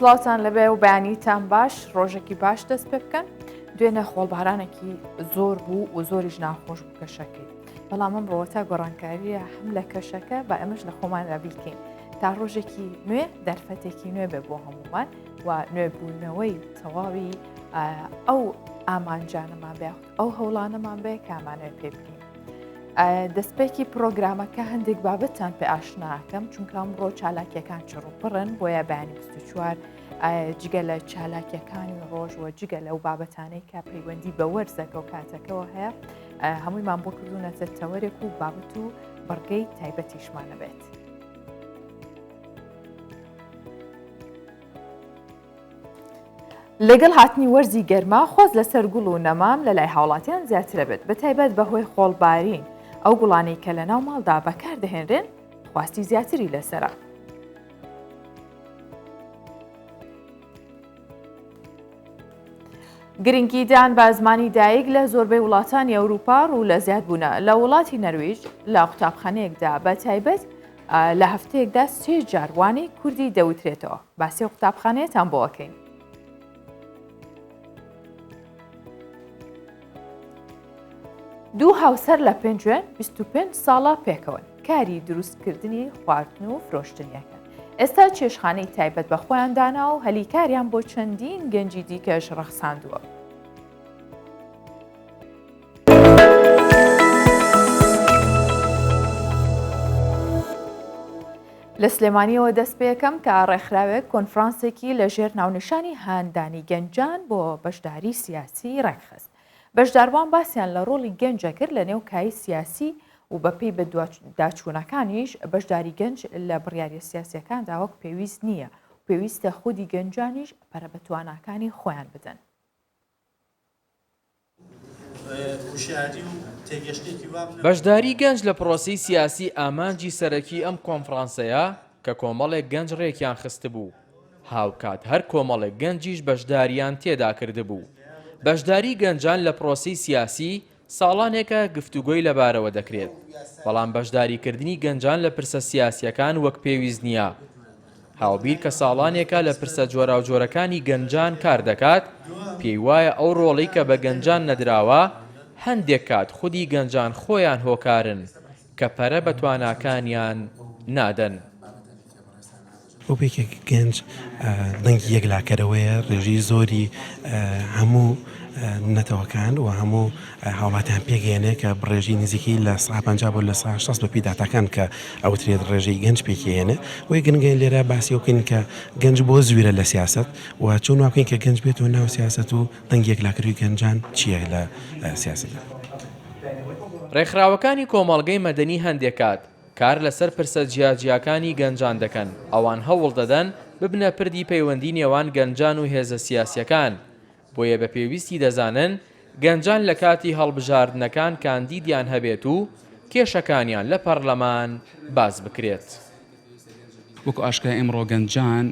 سڵاوان لەبێ و بەیانیتان باش ڕۆژێکی باش دەست پێ بکەن دوێنە خۆڵبارانێکی زۆر بوو و زۆریش ناخۆش بوو کەشەکەی بەڵام من ڕۆتا گۆڕانکاریە هەم لە کەشەکە بە ئەمەش لە خۆمان رابیکەین تا ڕۆژێکی نوێ دەرفەتێکی نوێ بێ بۆ هەمومان و نوێبوونەوەی تەواوی ئەو ئامانجانەمان بێ ئەو هەوڵانەمان بەیە کامانەوە پێ بکەین دەستپێکی پرۆگرامەکە هەندێک بابەتان پێ ئاشناکەم چونکە ئەمڕۆ چالاکیەکان چڕوپڕن بۆیە بەیانی 24 جگە لە چالاکیەکانی ڕۆژ و جگە لەو بابەتانەی کە پەیوەندی بە وەرزەکە و کاتەکەەوە هەیە هەموویمان بۆ کردوونەتە تەوەرێک و بابەت و بڕگەی تایبەتیشمانە بێت. لەگەڵ هاتنی وەرزی گەرما خۆز لەسەر گوڵ و نەمام لە لای هاوڵاتیان زیاترە بێت بە تایبەت بەهۆی خۆڵبارین ئەو گوڵانەی کە لە ناو ماڵدا بەکاردەهێنرێن خواستی زیاتری لەسرە. گرنگیدان بە زمانی دایک لە زۆربەی وڵاتانی ئەوروپا ڕوو لە زیادبوونە لە وڵاتی نەرویج لە قوتابخانەیەکدا بە تایبەت لە هەفتەیەکدا سێ جار وانەی کوردی دەوترێتەوە باسی و قوتابخانەیەتان بۆەکەین. دوو هاوسەر لە پێنجوێن 25 ساڵە پێکەوەن کاری دروستکردنی خواردن و فرۆشتنیەکەن ئێستا چێشخانەی تایبەت بە خۆیان دانا و هەلی کاریان بۆ چەندین گەنجی دیکەش ڕەخساندووە. لە سلێمانیەوە دەست پێەکەم کە ڕێکخراوێک کۆنفرانسێکی لە ژێر ناونیشانی هاندانی گەنجان بۆ بەشداری سیاسی ڕێکخست بەشداروان باسییان لە ڕۆڵی گەنجە کرد لە نێو کای سیاسی و بەپی بە داچوونەکانیش بەشداری گەنج لە بڕیارە سیاسەکان داوەک پێویست نییە پێویستە خودی گەنجانیش پەرە بە تواناکانی خۆیان بدەن. بەشداری گەنج لە پرۆسەی سیاسی ئامانجی سەرەکی ئەم کۆنفرانسەیە کە کۆمەڵێک گەنج ڕێکیان خستبوو، هاوکات هەر کۆمەڵێک گەنجیش بەشداریان تێدا کردبوو. بەشداری گەنجان لە پرۆسەی سیاسی ساڵانێکە گفتوگۆی لەبارەوە دەکرێت، بەڵام بەشداریکردنی گەنجان لە پرسە سیاسییەکان وەک پێویست نییە. هاوبیر کە ساڵانێکە لە پرسە جۆراوجۆرەکانی گەنجان کار دەکات، پێی وایە ئەو ڕۆڵەی کە بە گەنجان نەدراوە، هەندێک کات خودی گەنجان خۆیان هۆکارن کە پەرە بە تواناکانیان نادەن. وەکو یەکێک گەنج دەنگی یەکلاکەرەوەیە، ڕێژەی زۆری هەموو نەتەوەکان و هەموو. هاوڵاتیان پێگەیەنێ کە ڕێژەی نزیکەی لە سەدا پەنجا بۆ لە سەدا شەست بەپێی داتاکان کە ئەوترێت ڕێژەی گەنج پێکیەیەنێ وەی گرنگە لێرە باسی ئەوە کەین کە گەنج بۆ زویرە لە سیاسەت و چۆن وابکەین کە گەنج بێتەوە ناو سیاسەت و دەنگی یەکلاکەروی گەنجان چیە لە سیاسەتدا. ڕێکخراوەکانی کۆمەڵگەی مەدەنی هەندێک کات کار لەسەر پرسە جیاجیاکانی گەنجان دەکەن، ئەوان هەوڵدەدەن ببنە پردی پەیوەندی نێوان گەنجان و هێزە سیاسیەکان، بۆیە بە پێویستی دەزانن گەنجان لە کاتی هەڵبژاردنەکان کاندیدیان هەبێت و کێشەکانیان لە پەرلەمان باس بکرێت. وەکو ئاشکرایە ئیمڕۆ گەنجان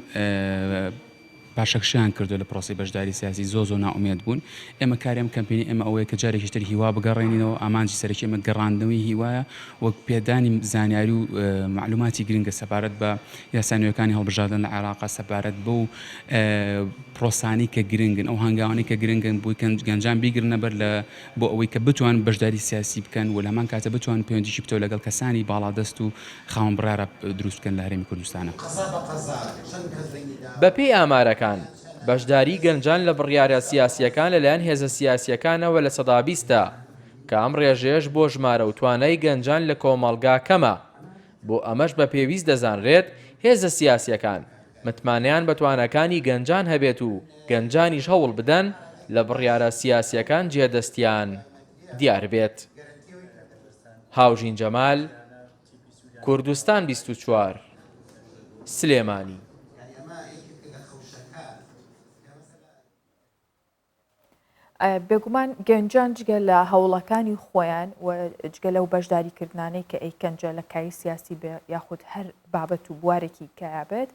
پاشەکشەیان کردووە لە پرۆسەی بەشداری سیاسی، زۆر زۆر نائومێد بوون، ئێمە کاری ئەم کەمپینەی ئێمە ئەوەیە کە جارێکیش تر هیوا بگەڕێنینەوە، ئامانجی سەرەکی ئێمە گەڕاندنەوەی هیوایە و پێدانی زانیاری و مەعلووماتی گرنگە سەبارەت بە یاسا نوێکانی هەڵبژاردن لە عێراق سەبارەت بەو پرۆسانەی کە گرنگن ئەو هەنگاوانەی کە گرنگن بۆی کەنج گەنجان بیگرنە بەر لە بۆ ئەوەی کە بتوان بەشداری سیاسی بکەن و لە هەمان کاتە بتوان پەیوەندیی پتەو لەگەڵ کەسانی باڵادەست و خاوەن بڕیارە دروست بکەن لە هەرێمی کوردستانە. بەپێی ئامارەکان، بەشداریی گەنجان لە بڕیارە سیاسییەکان لەلایەن هێزە سیاسییەکانەوە لە سەدا بیستە، کە ئەم ڕێژەیەش بۆ ژمارە و توانای گەنجان لە کۆمەڵگا کەمە، بۆ ئەمەش بە پێویست دەزانرێت هێزە سیاسییەکان متمانەیان بە تواناکانی گەنجان هەبێت و گەنجانیش هەوڵ بدەن لە بڕیارە سیاسییەکان جێدەستیان دیار بێت. هاوژین جەمال، کوردستان بیست و چوار، سلێمانی. بێگومان گەنجان جگە لە هەوڵەکانی خۆیان و جگە لەو بەشداری کردانەی کە ئەیکەنجە لە کاری سیاسی بێ یاخود هەر بابەت و بوارێکی کەیابێت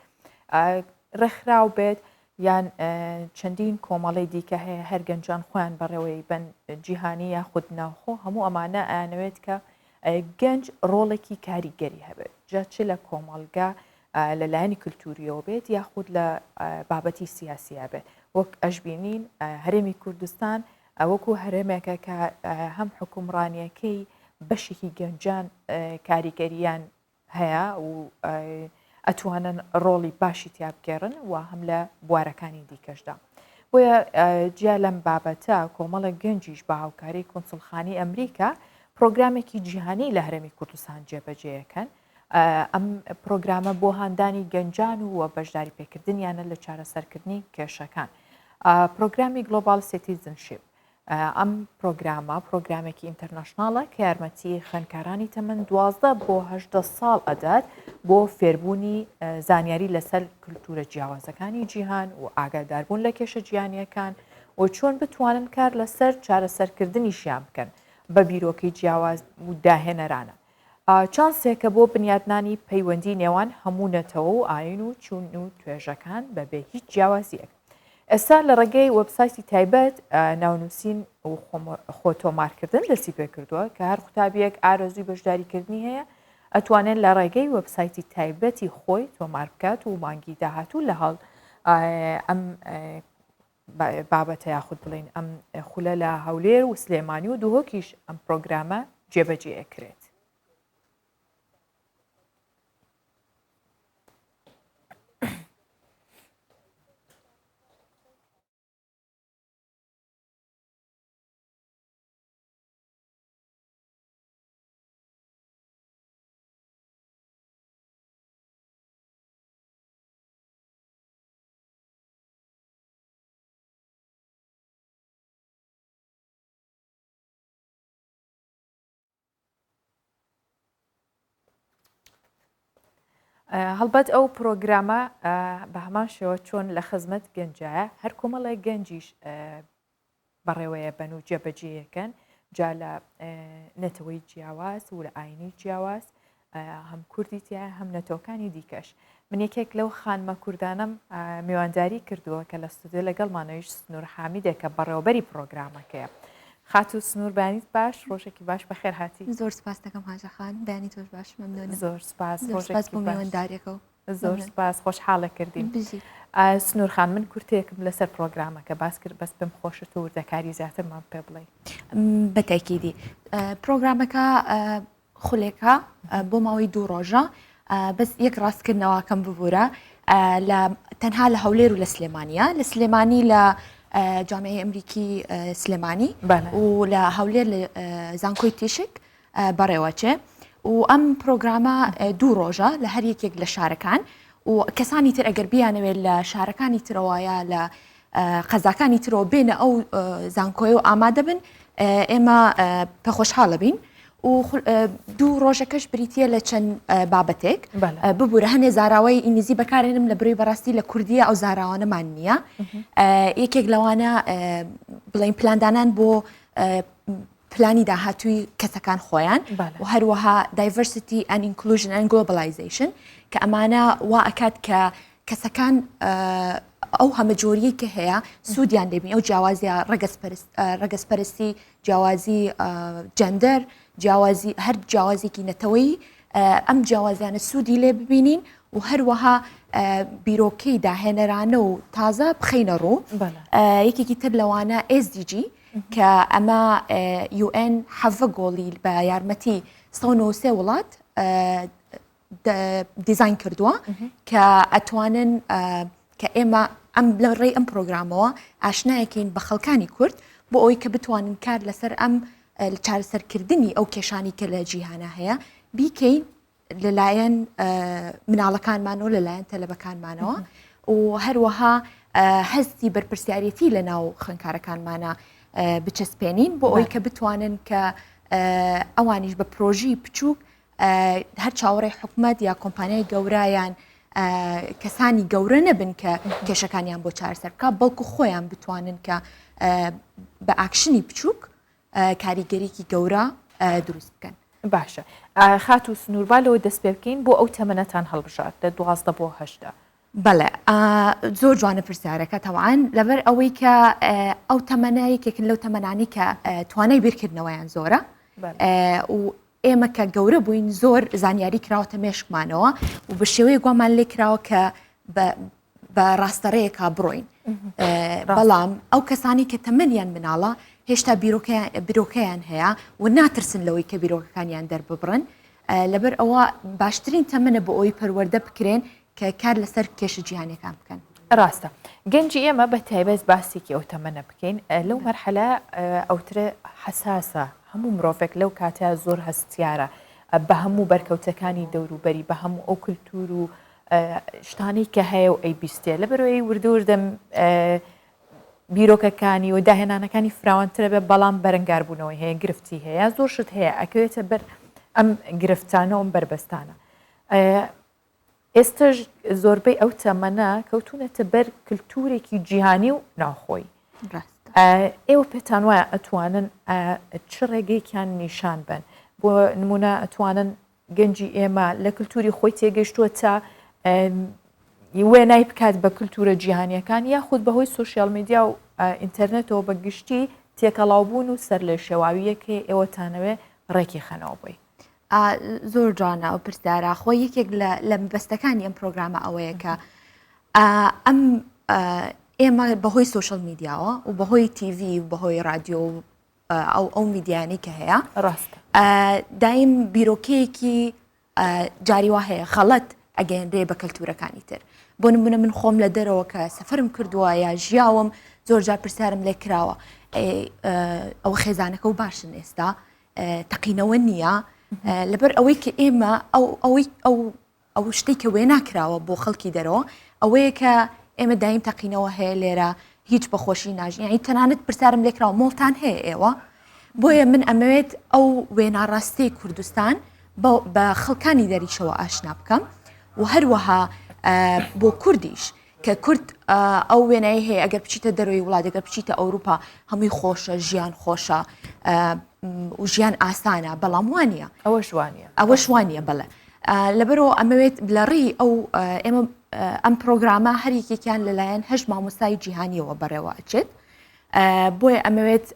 ڕێکخراو بێت یان چەندین کۆمەڵی دیکە هەیە هەر گەنجان خۆیان بەڕێوەی بن جیهانی یاخود ناوخۆ هەموو ئەمانە ئەیانەوێت کە گەنج ڕۆڵێکی کاریگەری هەبێت جا چ لە کۆمەڵگە لە لایەنی کللتوریەوە بێت یاخود لە بابەتی سیاسیە بێت وەک ئەشببینین هەرێمی کوردستان ئەوەکو هەرێمێکە کە هەم حکومڕانیەکەی بەشێکی گەنجان کاریگەریان هەیە و ئەتوانن ڕۆڵی باشی تیابگێڕن و هەم لە بوارەکانی دیکەشدا بۆیە جیا لەم بابەتە کۆمەڵە گەنجیش بە هاوکاری کونسلخانی ئەمریکا پرۆگرامێکی جیهانی لە هەرمی کوردستان جێبەجێەکەن ئەم پرۆگرامە بۆ هاندانی گەنجان و بەشداری پێکردنیانە لە چارەسەرکردنی کێشەکان پرۆگرامی گلۆبال سیتیزنشیپ ئەم پرۆگرامە پرۆگرامێکی ئینتەرناشناڵە کە یارمەتی خوێنکارانی تەمەن دوازدە بۆ هەدە ساڵ ئەدات بۆ فێربوونی زانیاری لەسەر کللتورە جیاوازەکانی جیهان و ئاگاداربوون لە کێشە جیانیەکان و چۆن بتوانن کار لەسەر چارەسەرکردنیشیان بکەن بە بیرۆکەی جیاواز و داهێنەرانە چانسێکە بۆ بنیادنانی پەیوەندی نێوان هەموو نەتەوە و ئاین و چون و توێژەکان بەبێ هیچ جیاوازیەک ئێستا لە ڕێگەی وەبسایتی تایبەت ناونووسین و خۆتۆمارکردن دەستی پێ کردووە کە هەر قوتابیەک ئارەزوی بەشداریکردنی هەیە ئەتوانێت لە ڕێگەی وەبسایتی تایبەتی خۆی تۆمار بکات و مانگی داهاتوو لە هەڵ ئەم بابەتە یاخود بڵێین ئەم خولە لە هەولێر و سلێمانی و دهۆکیش ئەم پرۆگرامە جێبەجێ ئەکرێت هەڵبەت ئەو پرۆگرامە بە هەمان شێوە چۆن لە خزمەت گەنجایە هەر کۆمەڵێک گەنجیش بەڕێوەیەبەن و جێبەجێیەکەن جا لە نەتەوەی جیاواز و لە ئاینی جیاواز هەم کوردی تیا هەم نەتۆکانی دیکەش من یەکێک لەو خانمە کوردانم میوانداری کردووە کە لە ستودیو لەگەڵمانەویش سنوور حامیدێک کە بەڕێوەبەری پرۆگرامەکەیە خاتو سنوور بانیت باش ڕۆژێکی باش بەخێر هاتی زۆر سپاس دەکەم هاژەخان دانی تۆش باش مەمنۆن زۆر سپاس ڕۆژێک بۆ میواندارێکەوە زۆر سپاس خۆشحاڵە کردین بژی سنوور خان من کورتێکم لەسەر پرۆگرامەکە باس کرد بەس پێم خۆشت و وردەکاری زیاترمان پێ بڵێ بەتەکیدی پرۆگرامەکە خولێکە بۆ ماوەی دوو ڕۆژە بەس یەک ڕاستکردنەوەکەم ببوورە لە تەنها لە هەولێر و لە سلێمانە لە سلێمانی لە جامعی ئەمریکی سلێمانی و لە هەولێر لە زانکۆی تیشک بەڕێوەچێ و ئەم پرۆگرامە دوو ڕۆژە لە هەر یەکێک لە شارەکان و کەسانی تر ئەگەر بیانەوێت لە شارەکانی ترەوەیە لە قەزاکانی ترەوە بێنە ئەو زانکۆی و ئامادە بن ئێمە پەخۆشحاڵە بین و دوو ڕۆژەکەش بریتە لە چەند بابەتێک ببوورە هەنێ زاراوەی ئینگلیزی بەکارێنم لە بروی بەڕاستی لە کوردیە ئەو زاراوانەمان نییە یەکێک لەوانە بڵین پلاندانان بۆ پلانی داهاتووی کەسەکان خۆیان و هەروەها دایڤەرسیتی ئەن ئینکلوژن ئەن گلۆبلایزیشن کە ئەمانە وا ئەکات کە کەسەکان ئەو هەمە جۆریی کە هەیە سوودیان دەبین ئەو جیاوازە ڕگەزپەرستی جیاوازی جەندەر جیاوازی هەر جیاوازێکی نەتەوەی ئەم جیاوازیانە سوودی لێ ببینین و هەروەها بیرۆکەی داهێنەرانە و تازە بخینە ڕوو یەکێکی تر لەوانە ئێزدیجی کە ئەمە یوئێن حەڤە گۆڵی بە یارمەتی سەو نووسێ وڵات دیزین کردووە کە ئەتوانن کە ئێمە ئەم لە ڕێی ئەم پرۆگرامەوە ئاشنایەکەین بە خەڵکانی کورد بۆ ئەوی کە بتوانن کار لەسەر ئەم چارەسەرکردنی ئەو کێشانی کە لە جیهانە هەیە بیکەین لەلایەن مناڵەکانمان و لەلایەن تەلەبەکانمانەوە و هەروەها هەستی بەرپرسیارەتی لە ناو خوێنکارەکانمانە بچەسپێنین بۆ ئەوی کە بتوانن کە ئەوانیش بە پرۆژی بچووک هەر چاوەڕێ حکومت یا کۆمپانیای گەورایان کەسانی گەورە نەبن کە کێشەکانیان بۆ چارسەر بکە بەڵکو خۆیان بتوانن کە بە ئاکشنی بچووک کاریگەریکی گەورە دروست بکەن. باشە خاتوو سنوور با لەوە دەست پێ بکەین بۆ ئەو تەمەنەتان هەڵبژارد لە دوازدە بۆ هەژدە؟ بەڵێ زۆر جوانە پرسیارەکە تەوان لەبەر ئەوەی کە ئەو تەمەە یەکێکن لەو تەمەنانی کە توانای بیرکردنەوەیان زۆرە و ئێمە کە گەورە بووین زۆر زانیاری کراوەتە مێشکمانەوە و بە شێوەیە گومان لێ کراوە کە بە ڕاستەڕێیەکە بڕۆین بەڵام ئەو کەسانی کە تەمەنیان مناڵە هێشتا بیرۆکەیان هەیە و ناترسن لەوەی کە بیرۆکەکانیان دەرببڕن لەبەر ئەوە باشترین تەمنە بۆ ئەوی پەروەەردە بکرێن کە کار لەسەر کێشە جیهانەکان بکەن ڕاستە گەنجی ئێمە بە تایبەت باسێکی ئەو تەمەە بکەین لەو مەرحەلە ئەوترە حساسە هەموو مرۆڤێک لەو کاتە زۆر هەستیارە بە هەموو بەرکەوتەکانی دەوروبەری بە هەموو ئەو کللتور و شتانەی کە هەیە و ئەی بیستێ لە بەرۆی وردووردە بیرۆکەکانی و داهێنانەکانی فراوانترە بێ بەڵام بەرەنگاربوونەوەی هەیە گرفتی هەیە زۆر شت هەیە ئەکەوێتە بەر ئەم گرفتانە و ئەم بەربەستانە ئێستش زۆربەی ئەو تەمەە کەوتونەتە بەر کللتورێکی جیهانی و ناوخۆی ئێوە پێتان وایە ئەتوانن چ ڕێگەیەکیان نیشان بن بۆ نمونە ئەتوانن گەنجی ئێمە لە کللتوری خۆی تێگەشتووە تا وێنای بکات بە کللتورە جیهانیەکان یاخود بەهۆی سوسیال میدیا و ئینتەرنێتەوە بە گشتی تێکەڵاوبوون و سەر لێ شێواویەکەی ئێوەتانەوێ ڕێکی خەنەوە بووی. زۆر جوانە ئەو پرسیارە خۆ یەکێک لە بەستەکانی ئەم پرۆگرامە ئەوەیە کە ئەم ئێمە بەهۆی سوشل میدیاوە و بەهۆی تیڤ و بەهۆی رادیۆ و ئەو ئەو میدیانەی کە هەیە ڕاست دایم بیرۆکەیەکی جاری وا هەیە خەڵەت ئەگەێنرێ بە کەلتورەکانی تر بۆ نمونە من خۆم لە دەرەوە کە سەفرم کردووە یا ژیاوم زۆر جار پرسیارم لێ کراوە ئەو خێزانەکە و باشن ئێستا تەقینەوە نییە لەبەر ئەوەی کە ئێمە ئەو ئەوەی ئەو ئەو شتەی کە وێنا کراوە بۆ خەڵکی دەرەوە ئەوەیە کە ئێمە دایم تەقینەوە هەیە لێرە هیچ بە خۆشی ناژین یعنی تەنانەت پرسیارم لێکراوە مۆڵتان هەیە ئێوە بۆیە من ئەمەوێت ئەو وێنا ڕاستەی کوردستان بە خەڵکانی دەریشەوە ئاشنا بکەم و هەروەها بۆ کوردیش کە کورد ئەو وێنایی هەیە ئەگەر بچیتە دەرەوەی وڵات ئەگەر بچیتە ئەوروپا هەمووی خۆشە ژیان خۆشە و ژیان ئاسانە بەڵام وانە ئەوە شوانە ئەوە شوانە بەڵێ لەبەرەوە ئەمەوێت لە ڕێی ئەو ئێمە ئەم پرۆگرامە هەریکێکیان لەلایەن هەش مامۆستای جیهانیەوە بەڕێوە ئەچێت بۆیە ئەمەوێت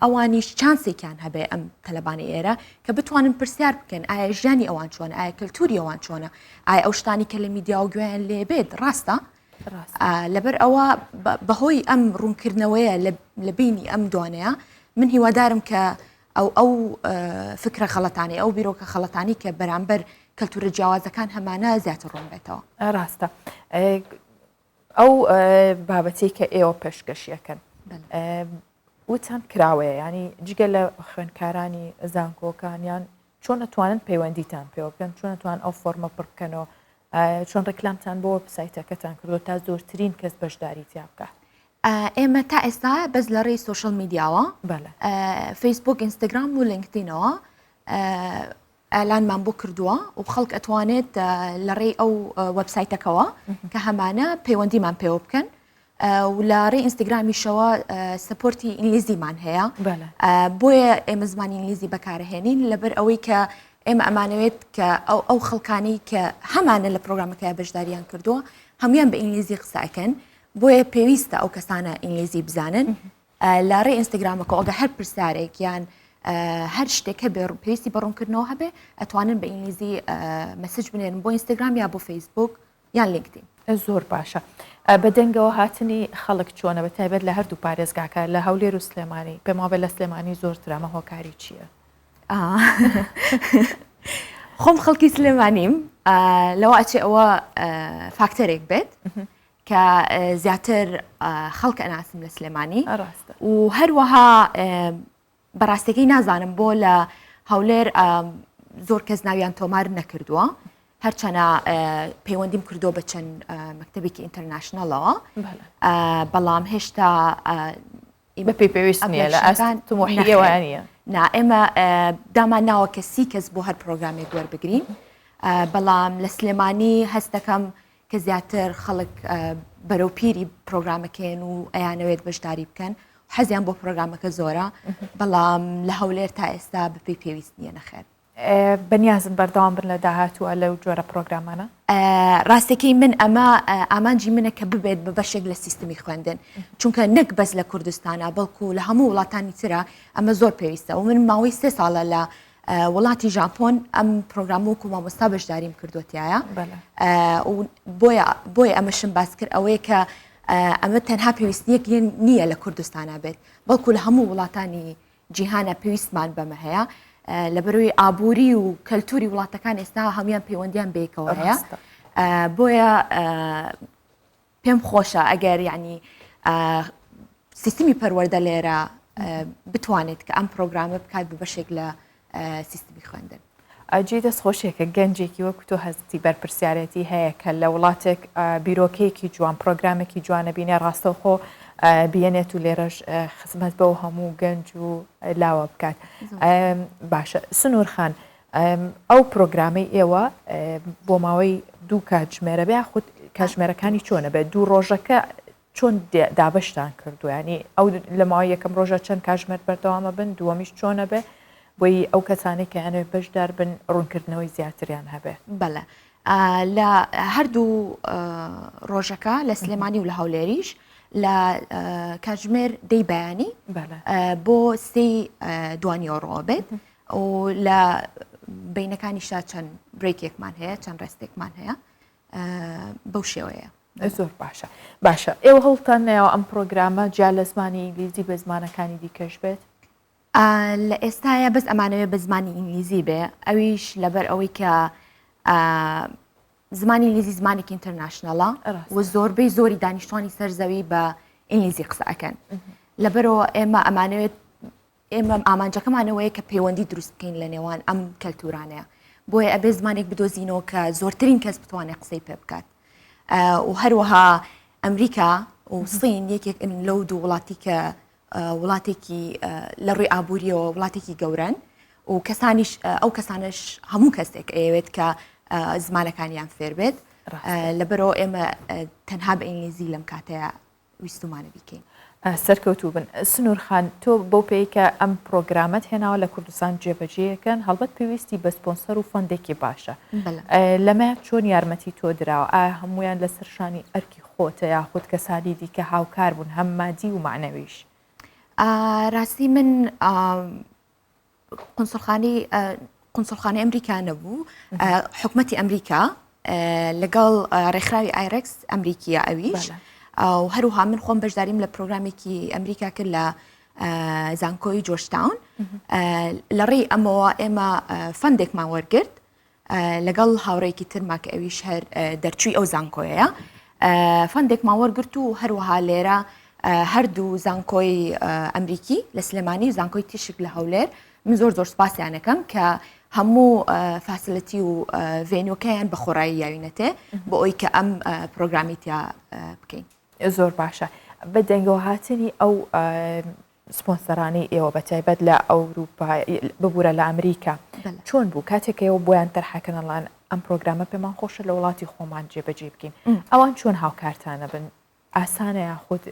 ئەوانیش چانسێکیان هەبێ ئەم تەلەبانی ئێرە کە بتوانن پرسیار بکەن ئایا ژیانی ئەوان چۆن ئایا کەلتوری ئەوان چۆنە ئایا ئەو شتانی کە لە میدیا و گوێیان لێبێت ڕاستە لەبەر ئەوە بەهۆی ئەم ڕوونکردنەوەیە لە بینی ئەم دوانەیە من هیوادارم کە ئەو ئەو فکرە خەڵەتانی ئەو بیرۆکە خەڵەتانی کە بەرامبەر کەلتورە جیاوازەکان هەمانە زیاتر ڕوون بێتەوە ڕاستە ئەو بابەتەی کە ئێوە پێشکەشیەکەن وتان کراوەیە ینی جگە لە خوێنکارانی زانکۆکانیان چۆن ئەتوانن پەیوەندیتان پێوە بکەن چۆن ئەتوان ئەو فۆرمە پڕ بکەنەوە چۆن ڕێکلامتان بۆ سایتەکەتان کردو تا زۆرترین کەس بەشداری تیا بکە ئێمە تا ئێستا بەس لە ڕێی سوۆشل میدیاوە فەیسبوک ئینستاگرام و لینکدینەوە ئالانمان بۆ کردووە و خەڵک ئەتوانێت لە ڕێی ئەو وەبسایتەکەوە کە هەمانە پەیوەندیمان پێوە بکەن و لە ڕێ ئینستاگرامیشەوە سپۆرتی ئینگلیزیمان هەیە بۆیە ئێمە زمانی ئینگلیزی بەکارهێنین لەبەر ئەوەی کە ئێمە ئەمانەوێت کە ئەو ئەو خەڵکانی کە هەمانە لە پرۆگرامەکە بەشداریان کردووە هەمویان بە ئینگلیزی قسەکەن بۆیە پێویستە ئەو کەسانە ئینگلیزی بزانن لە ڕێی ئینستاگرامەکەوە ئەگە هەر پرسیارێک یان هەر شتێک هەبێ پێویستی بە ڕوونکردنەوە هەبێ ئەتوانن بە ئینگلیزی مەسج بنێن بۆ ئینستاگرام یا بۆ فەیسبوک یان لینکدین زۆر باشە بە دەنگەوە هاتنی خەڵک چۆنە بە تایبەت لە هەردوو پارێزگاکە لە هەولێر و سلێمانی پێم وابێ لە سلێمانی زۆرترامە هۆکاری چییە؟ خۆم خەڵکی سلێمانیم لەوە ئەچێ ئەوە فاکتەرێک بێت کە زیاتر خەڵک ئەناسم لە سلێمانی و هەروەها بەڕاستەکەی نازانم بۆ لە هەولێر زۆر کەس ناویان تۆمار نەکردووە هەرچەنە پەیوەندیم کردو بە چەند مەکتتەبێکی ئینتەرناشنلەوە بەڵام هێشتا بە پێی پێویست نیە لە ئەسان تمۆحیوانە نا ئێمە دامان ناوە کە سی کەس بۆ هەر پرۆگرامێک وەربگرین بەڵام لە سلێمانی هەستەکەم کە زیاتر خەڵک بەرەو پیری پرۆگرامەکەن و ئەیانەوێت بەشداری بکەن حەزیان بۆ پرۆگرامەکە زۆرە بەڵام لە هەولێر تا ئێستا بەپی پێویست نیە نەخێر بەنیازن بەردەوام بن لە داهاتوە لەو جۆرە پرۆگرامانە ڕاستەکەی من ئەمە ئامانجی منە کە ببێت بە بەشێک لە سیستمی خوێندن چونکە نەک بەس لە کوردستانە بەڵکو لە هەموو وڵاتانی تررا ئەمە زۆر پێویستە و من ماوەی سێ ساڵە لە وڵاتی ژاپۆن ئەم پرۆگرام وەکو مامۆستا بەشداریم کردوتیایە بۆیە ئەمەشم باس کرد ئەوەیە کە ئەمە تەنها پێویستنیەک نییە لە کوردستانە بێت بەڵکو لە هەموو وڵاتانی جیهانە پێویستمان بەمە هەیە لەبەروی ئابووری و کەلتوری وڵاتەکان ئێستا هەموان پەیوەندیان بێکەوە هەیە بۆیە پێم خۆشە ئەگەر یعنی سیستمی پەروەەردە لێرە بتوانێت کە ئەم پرۆگرامە بکات بە بەشێک لە سیستمی خوێندن. ئەجی دەست خۆشیێکە گەنجێکی وەک تۆ هەستی بەرپسیارەتی هەیە کە لە وڵاتێک بیرۆکەیەکی جوان پرۆگرامێکی جوانە بینێ ڕاستەوخۆ بینێت و لێرەش خزمەت بەو هەموو گەنج و لاوە بکات باشە سنوورخان ئەو پرۆگرامەی ئێوە بۆ ماوەی دوو کاتژمێرە بێ خود کاتژمێرەکانی چۆنە بێت دوو ڕۆژەکە چۆن دابشتان کردویانی ئەو لە ماوە یەکەم ڕۆژە چەند کاژمێر بەردەوامە بن دووەمیش چۆنە بێ بۆی ئەو کەسانی کە یانەوەی بەشدار بن ڕوونکردنەوەی زیاتریان هەبێ بەڵێ لە هەردوو ڕۆژەکە لە سلێمانی و لە هەولێریش لە کاتژمێر دەی بەیانی بۆ سی دوانیۆڕۆ بێت و لە بینەکانیشا چەند برێکێکمان هەیە چەند ڕێستێکمان هەیە بەو شێوەیە زۆر باشە باشە ئێوە هەڵتان ناوە ئەم پرۆگرامە جیا لە زمانی ئینگلیزی بە زمانەکانی دیکەش بێت لە ئێستاە بەس ئەمانەوێ بە زمانی ئینگلیزی بێ ئەویش لەبەر ئەوەی کە زمانی ئینگلیزی زمانێکی ئینتەرناشنەڵە و زۆربەی زۆری دانیشتوانی سەرزەوی بە ئینگلیزی قسە ئەەکەن لەبەرەوە ئێمە ئەمانەوێت ئێمە ئامانجەکەمان ئەوەیە کە پەیوەندی دروست بکەین لە نێوان ئەم کەلتورانەیە بۆیە ئەبێ زمانێک بدۆزینەوە کە زۆرترین کەس بتوانێت قسەی پێ بکات و هەروەها ئەمریکا و سین یەکێک لەو دوو وڵاتی کە وڵاتێکی لە ڕووی ئابووریەوە وڵاتێکی گەورن و کەسانیش ئەو کەسانش هەموو کەسێک ئەیەوێت کە زمانەکانیان فێربێت لەبەرەوە ئێمە تەنها بە ئینگلیزی لەم کاتەیە ویستومانە بیکەین. سەرکەوتوو بن. سنوور خان تۆ بەو پێی کە ئەم پرۆگرامەت هێناوە لە کوردستان جێبەجێیەکەن هەڵبەت پێویستی بە سپۆنسەر و فەندێکی باشە لەمە چۆن یارمەتی تۆ دراوە ئا هەمویان لەسەر شانی ئەرکی خۆتە یاخود کەسانی دیکە هاوکار بوون هەم مادی و معنەویش. راستی من قونسڵخانەی قونسڵخانەی ئەمریکا نەبوو حکوومەتتی ئەمریکا لەگەڵ ڕێکخراوی ئایرکس ئەمریکیە ئەویش و هەروها من خۆم بەشداریم لە پرۆگرامێکی ئەمریکا کرد لە زانکۆی جۆشتاون لە ڕێی ئەمەوە ئێمە فەندێکمان وەرگرت لەگەڵ هاوڕێکی ترما کە ئەویش هەر دەرچووی ئەو زانکۆیەیە فەندێکمان وەرگرت و هەروەها لێرە هەردوو زانکۆی ئەمریکی لە سلێمانی و زانکۆی تیشک لە هەولێر من زۆر زۆر سپاسیانەکەم کە هەموو فاسلەتی و ڤێنۆکەیان بە خۆڕایی یاوینەتێ بۆ ئەوی کە ئەم پرۆگرامیتیا بکەین زۆر باشە بە دەنگەوە هاتنی ئەو سپۆنسەرانی ئێوە بە تایبەت لە ئەوروپا ببورە لە ئەمریکا چۆن بوو کاتێک ئێوە بۆیان تەرحەکەنەڵان ئەم پرۆگرامە پێمان خۆشە لە وڵاتی خۆمان جێبەجێ بکەین ئەوان چۆن هاوکارتانە بن ئاسانە یاخود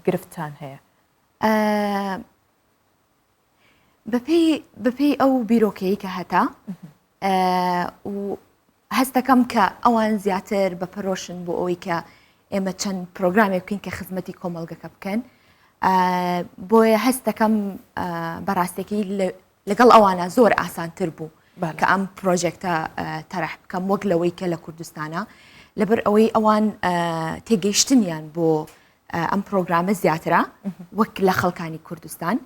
گرفتان هەیە بەپی بەپی ئەو بیرۆکەیە هەتا و هەست دەکەم کە ئەوان زیاتر بە پەرۆشن بۆ ئەوەی کە ئێمە چەند پرۆگرامێک بکەین کە خزمەتی کۆمەلگەکە بکەن بۆیە هەست دەکەم بەڕاستێکی لەگەڵ ئەوانە زۆر ئاسانتر بوو کە ئەم پرۆژێکتە تەرح بکەم وەک لەوەی کە لە کوردستانە لەبەر ئەوەی ئەوان تێگەیشتنیان بۆ ئەم پرۆگرامە زیاترە وەک لە خەڵکانی کوردستان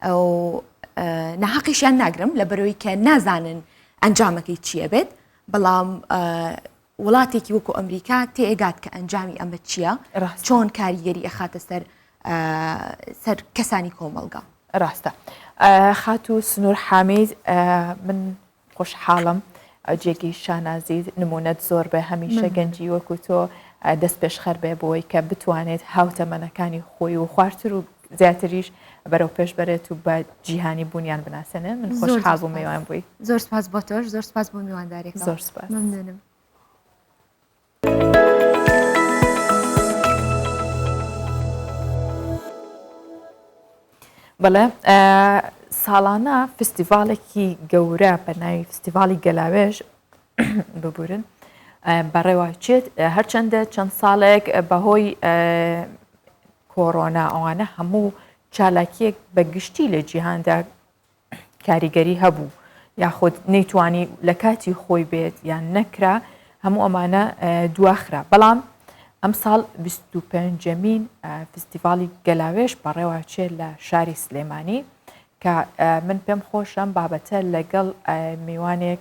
و ناهەقیشیان ناگرم لە بەرەوەی کە نازانن ئەنجامەکەی چییە بێت بەڵام وڵاتێکی وەکو ئەمریکا تێگات کە ئەنجامی ئەمە چییە چۆن کاریگەری ئەخاتە سەر سەر کەسانی کۆمەلگا ڕاستە خاتو سنوور حامید من خۆشحاڵم جێگەی شانازیت نمونەت زۆر بێ هەمیشە گەنجی وەکو تۆ دەست پێشخەر بێ بۆی کە بتوانێت هاوتەمەنەکانی خۆی و خوارتر و زیاتریش بەرەو پێش بەرێت و بە جیهانی بوونیان بناسێنێ من خۆشحاڵ بوو میوان بووی زۆر سپاس بۆ تۆش زۆر سپاس بۆ میواندارێک زۆر سپاس ممنونم بەڵێ ساڵانە فستیڤالێکی گەورە بە ناوی فستیڤالی گەلاوێژ ببورن بەڕێواچێت هەرچەندە چەند ساڵێک بەهۆی کۆرۆنا ئەوانە هەموو چالاکیەک بە گشتی لە جیهاندا کاریگەری هەبوو یاخود نەیتوانی لە کاتی خۆی بێت یان نەکرا هەموو ئەمانە دواخرا بەڵام ئەمساڵ 25مین فستیڤالی گەلاوێش بەڕێواچێت لە شاری سلێمانی کە من پێم خۆشم بابەتە لەگەڵ میوانێک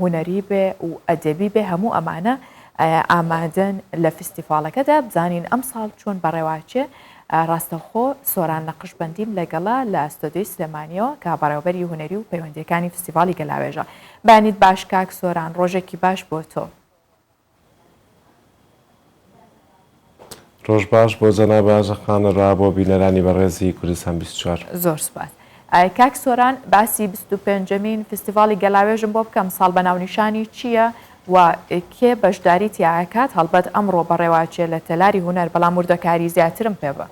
هونەری بێ و ئەدەبی بێ هەموو ئەمانە ئامادەن لە فستیڤاڵەکەدا بزانین ئەمساڵ چۆن بەڕێواچێ ڕاستەوخۆ سۆران نەقشبەندیم لەگەڵا لە ئەستۆدیۆی سلێمانیەوە کە بەڕێوەبەری هونەری و پەیوەندیەکانی فستیڤاڵی گەلاوێژە بەیانیت باش کاک سۆران ڕۆژێکی باش بۆ تۆ. ڕۆژ باش بۆ جەنابە ئاژە خانە را بۆ بینەرانی بەڕێزی کوردستان بیست و چوار. زۆر سوپاس کاک سۆران باسی بیست و پێنج مین فیستیڤاڵی گەلاوێژم بۆ بکە ئەمساڵ بە ناونیشانی چییە و کێ بەشداری تیاکات هەڵبەت ئەمڕۆ بەڕێواچێ لە تەلاری هونەر بەڵام وردەکاری زیاترم پێ بە.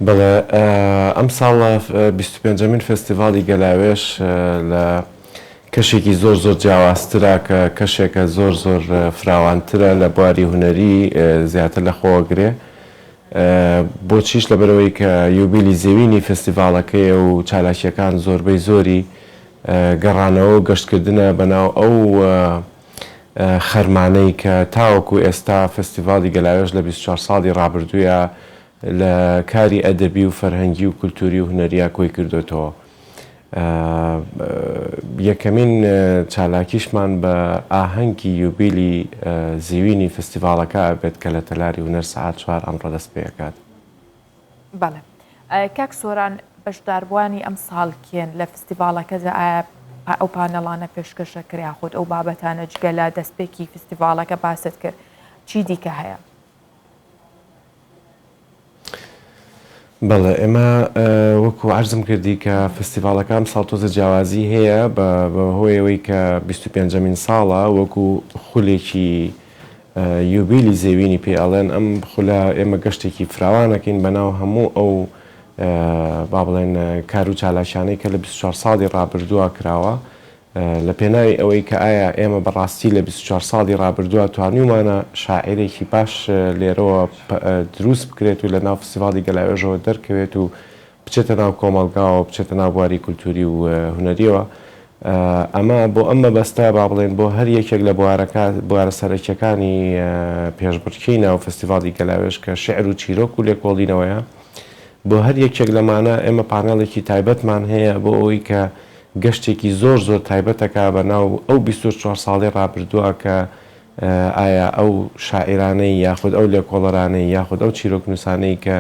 بەڵێ ئەمساڵ بیست و پێنجەمین فێستیڤاڵی گەلاوێژ لە کەشێکی زۆر زۆر جیاوازترە کە کەشێکە زۆر زۆر فراوانترە لە بواری هونەری زیاتر لە خۆوە گرێ بۆچیش لەبەرەوەی کە یوبیلی زێوینی فێستیڤاڵەکەیە و چالاکیەکان زۆربەی زۆری گەڕانەوە و گەشتکردنە بەناو ئەو خەرمانەی کە تاوەکو ئێستا فستیڤاڵی گەلاوێژ لە بیست و چوار ساڵی ڕابردوویا لە کاری ئەدەبی و فەرهەنگی و کولتووری و هونەریا کۆی کردۆتەوە. یەکەمین چالاکیشمان بە ئاهەنگی یوبیلی زیوینی فستیڤاڵەکە ئەبێت کە لە تەلاری هونەر سەعات چوار ئەمڕۆ دەست پێ ئەکات. بەڵێ کاک سۆران بەشداربووانی ئەمساڵ کێن لە فستیڤاڵەکەدا ئایا ئەو پانێڵانە پێشکەشە کرا یاخود ئەو بابەتانە جگە لە دەستپێکی فستیڤاڵەکە باست کرد چی دیکە هەیە؟ بەڵێ ئێمە وەکو عەرزم کردی کە فستیڤاڵەکە ئەمساڵ تۆزە جیاوازی هەیە بە هۆی ئەوەی کە بیست و پێنجەمین ساڵە وەکو خولێکی یوبیلی زێوینی پێ ئەڵێن، ئەم خولە ئێمە گەشتێکی فراوان ئەکەین بەناو هەموو ئەو با بڵێن کار و چالاکیانەی کە لە بیست و چوار ساڵی ڕابردووە کراوە لە پێناوی ئەوەی کە ئایا ئێمە بە ڕاستی لە بیست و چوار ساڵی ڕابردووە توانیومانە شاعیرێکی باش لێرەوە دروست بکرێت و لە ناو فستیڤاڵی گەلاوێژەوە دەرکەوێت و بچێتە ناو کۆمەڵگاوە، بچێتە ناو بواری کولتووری و هونەرییەوە. ئەمە بۆ ئەم مەبەستە با بڵێین بۆ هەر یەکێک لە بوارەکە، بوارە سەرەکییەکانی پێشبڕکێی ناو فستیڤاڵی گەلاوێژ کە شیعر و چیرۆک و لێکۆڵینەوەیە، بۆ هەر یەکێک لەمانە ئێمە پانێڵێکی تایبەتمان هەیە بۆ ئەوەی کە گەشتێکی زۆر زۆر تایبەت دەکا بە ناو ئەو بیست و چوار ساڵەی ڕابردووە کە ئایا ئەو شاعیرانەی یاخود ئەو لێکۆڵەرانەی یاخود ئەو چیرۆکنووسانەی کە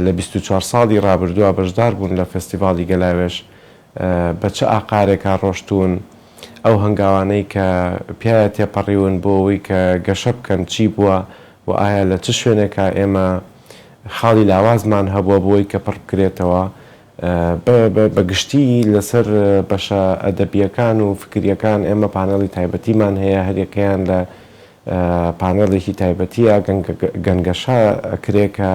لە بیست و چوار ساڵی ڕابردووە بەشدار بوون لە فێستیڤاڵی گەلاوێژ بە چ ئاقارێکا ڕۆشتوون؟ ئەو هەنگاوانەی کە پیایا تێپەڕیون بۆ ئەوەی کە گەشە بکەن چی بووە و ئایا لە چ شوێنێکا ئێمە خاڵی لاوازمان هەبووە بۆ ئەوەی کە پڕ بکرێتەوە؟ بە گشتی لە سەر بەشە ئەدەبییەکان و فکرییەکان ئێمە پانێڵی تایبەتیمان هەیە هەر یەکەیان لە پانێڵێکی تایبەتییە گەنگەشە کرێ کە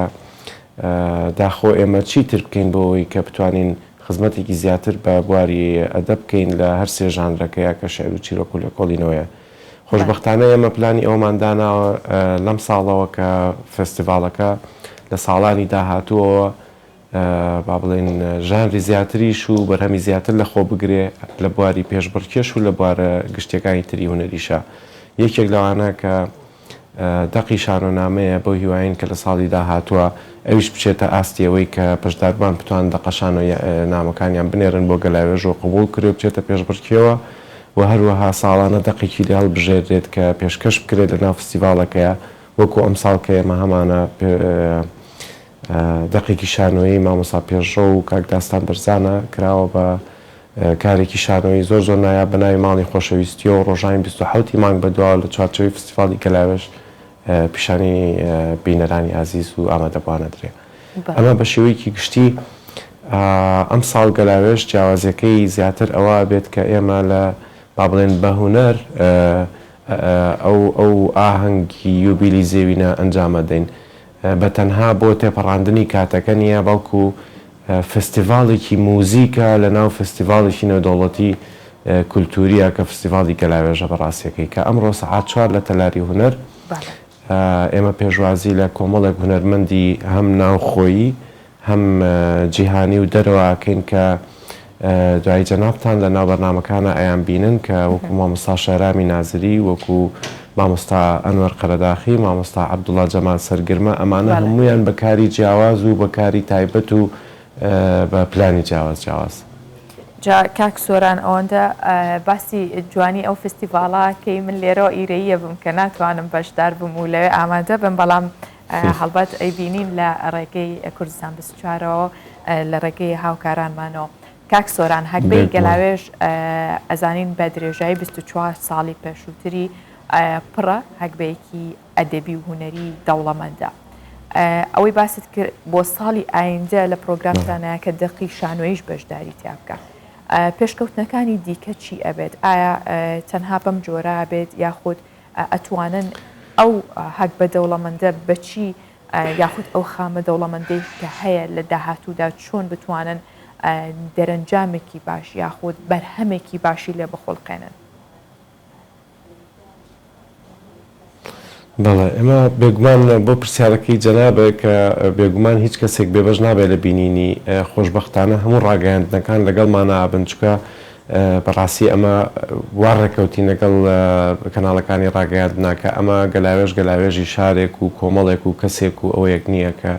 داخۆ ئێمە چی تر بکەین بۆ ئەوەی کە بتوانین خزمەتێکی زیاتر بە بواری ئەدەب بکەین لە هەر سێ ژانرەکە یا کە شعر و چیرۆک و لێکۆڵینەوەیە. خۆشبەختانە ئێمە پلانی ئەوەمان داناوە لەم ساڵەوە کە فێستیڤاڵەکە لە ساڵانی داهاتووەوە با بڵێین ژانری زیاتریش و بەرهەمی زیاتر لە خۆ بگرێ لە بواری پێشبڕکێش و لە بوارە گشتیەکانی تری هونەریشا یەکێک لەوانە کە دەقی شانۆنامەیە بەو هیواین کە لە ساڵی داهاتوە ئەویش بچێتە ئاستی ئەوەی کە بەشداربان بتوان دەقە شانۆ نامەکانیان بنێرن بۆ گەلاوێژ و قبوڵ کرێ و بچێتە پێشبڕکێوە و هەروەها ساڵانە دەقێکی لێ هەڵبژێردرێت کە پێشکەش بکرێت لە ناو فستیڤاڵەکەیا وەکو ئەمساڵ کە ئێمە هەمانە دەقێکی شانۆیی مامۆستا پێشڕەو و کاک داستان بەرزانە کراوە بە کارێکی شانۆیی زۆر زۆر نایاب بە ناوی ماڵی خۆشەویستییەوە ڕۆژانی بیست و حەوت ی مانگ بەدواوە لە چوارچێوەی فستیڤاڵی گەلاوێژ پیشانی بینەرانی ئازیز و ئامادەبووان ئەدرێ ئەمە بە شێوەیەکی گشتی ئەمساڵ گەلاوێژ جیاوازیەکەی زیاتر ئەوە بێت کە ئێمە لە با بڵێن بە هونەر ئەو ئەو ئاهەنگی یوبیلی زێوینە ئەنجامە دەین بە تەنها بۆ تێپەڕاندنی کاتەکە نییە، بەڵکو فستیڤاڵێکی موزیکە لە ناو فستیڤاڵێکی نێودەوڵەتی کولتوورییە کە فستیڤاڵی گەلاوێژە بە ڕاستییەکەی کە ئەمڕۆ سەعات چوار لە تەلاری هونەر ئێمە پێشوازی لە کۆمەڵێک هونەرمەندی هەم ناوخۆیی هەم جیهانی و دەرەوە ئەکەین کە دوایی جەنابتان لە ناو بەرنامەکانا ئەیان بینن کە وەکو مامۆستا شەهرامی نازری وەکو مامۆستا ئەنوەر قەرەداخی مامۆستا عەبدوڵا جەمال سەرگرمە ئەمانە هەموویان بە کاری جیاواز و بە کاری تایبەت و بە پلانی جیاواز جیاواز. جا کاک سۆران ئەوەندە باسی جوانی ئەو فستیڤاڵە ئەکەی من لێرەوە ئیرەییە بم کە ناتوانم بەشدار بم و لەوێ ئامادە بم بەڵام هەڵبەت ئەیبینین لە ڕێگەی کوردستان بیست و چوارەوە لە ڕێگەی هاوکارانمانەوە. کاک سۆران هەگبەی گەلاوێژ ئەزانین بە درێژایی بیست و چوار ساڵی پێشووتری پڕە هەگبەیەکی ئەدەبی و هونەری دەوڵەمەندە. ئەوەی باست کرد بۆ ساڵی ئایندە لە پرۆگرامتانەیە کە دەقی شانۆییش بەشداری تیا بکا. پێشکەوتنەکانی دیکە چی ئەبێت؟ ئایا تەنها بەم جۆرە ئەبێت یاخود ئەتوانن ئەو هەگبە دەوڵەمەندە بەچی یاخود ئەو خامە دەوڵەمەندەی کە هەیە لە داهاتوودا چۆن بتوانن دەرەنجامێکی باش یاخود بەرهەمێکی باشی لێ بخولقێنن؟ بەڵێ ئەمە بێگومان بۆ پرسیارەکەی جەنابێک کە بێگومان هیچ کەسێک بێبەش نابێت لە بینینی خۆشببختانە هەموو ڕاگەیاندنەکان لەگەڵ مانابن چکە بەڕاستی ئەمە وا ڕێکەوتین لەگەڵ کەناڵەکانی ڕاگەیاندنا کە ئەمە گەلاوێژ گەلاوێژی شارێک و کۆمەڵێک و کەسێک و ئەوەیەک نییە کە